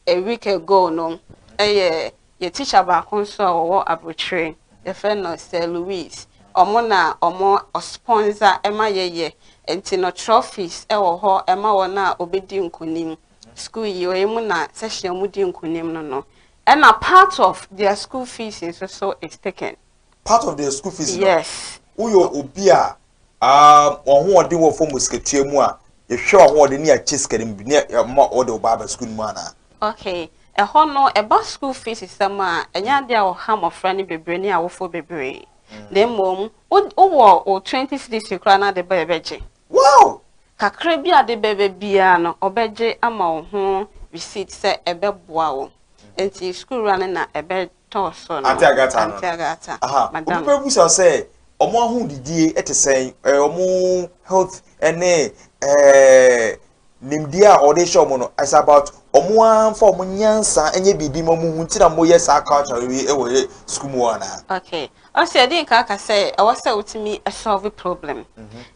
A week ago no yɛ yɛ teacher baako nso a ɔwɔ abrokyire yɛfrɛ no sir Louis ɔmo na ɔmo ɔspɔnza ɛma yɛyɛ nti no trophies ɛwɔ hɔ ɛma wɔn a ɔbɛdi nkunim school yi ɔyɛ mu na section ɔmo di nkunim no no ɛna part of their school fees nso so is taken part of their school fees no yes woyɛ obi a Aah ɔhoɔden wɔ fam wɔ sikatua mu a yɛhwɛ w'ahoɔden ne yɛakyɛ sika no mu bi ne yɛma wɔde wo ba aba sukuu no mu anaa? Okay, ɛhɔ no ɛba school fees sɛm a ɛnyɛ adeɛ a ɔha mmɔfra no bebree ne awofoɔ bebree na mmom wowɔ wo twenty cedis fee koraa no ade ba a ɛbɛgye Wow! kakra bi a ade bɛba biara no ɔbɛgye ama wo ho receipt sɛ ɛbɛboa wo nti sukuu wura no na ɛbɛ tɔɔ so no, Ante Agatha no, Ante Agatha, aha, obi madam. bɛbisa sɛ wɔn ahodidie te sɛn, eh, wɔn health ne eh, nimdeɛ a wɔde hyɛ wɔn no, it's about wɔn ara mfa wɔn nyansa nyɛ biribi ma wɔn ho nti na wɔyɛ saa culture wei wɔ yɛ sukuu mu hɔ anaa? Okay. Ɔsɛ ɛde nka aka sɛ ɛwɔ sɛ wotumi solve problem.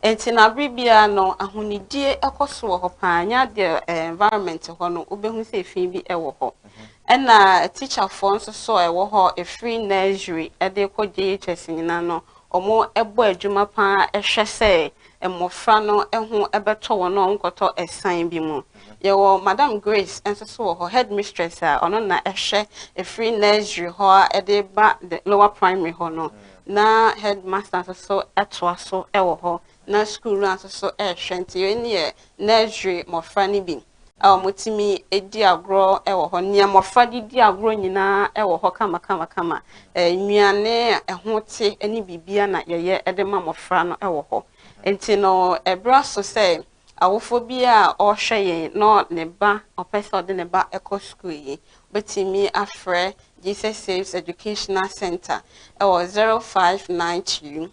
Nti na bere biara no ahonidie ɛkɔ so wɔ hɔ paa. Nya deɛ eh, environment hɔ no wobɛhu sɛ efi bi ɛwɔ hɔ. Ɛna tikyafoɔ nso so a ɛwɔ hɔ ɛfiri nursery de kɔ JHS nyinaa no, wɔbɔ adwuma pa ara hwɛ sɛ mmɔfra no ho bɛtɔ wɔn a wɔnkɔtɔ ɛsan bi mu. Yɛwɔ Madam Grace nso so wɔ hɔ, headmistress a ɔno na ɛhwɛ ɛfiri nursery hɔ a de ba the lower primary hɔ no, na headmaster nso so toa so wɔ hɔ. na sukuu no ara nso so rehwɛ, nti wei no yɛ nursery mmɔfra no bi a wɔtumi di agorɔ wɔ hɔ, nea mmɔfra de di agorɔ nyinaa wɔ hɔ kamakamakama, nnuane a ɛho te ne biribiara na yɛyɛ de ma mmɔfra no wɔ hɔ. Nti no, ɛberɛ aso sɛ awofoɔ bi a ɔrehwɛ yɛn na ne ba, ɔpɛ sɛ ɔde ne ba kɔ sukuu yi, wobɛtumi afrɛ Jesus Saves Educational Center wɔ 059 2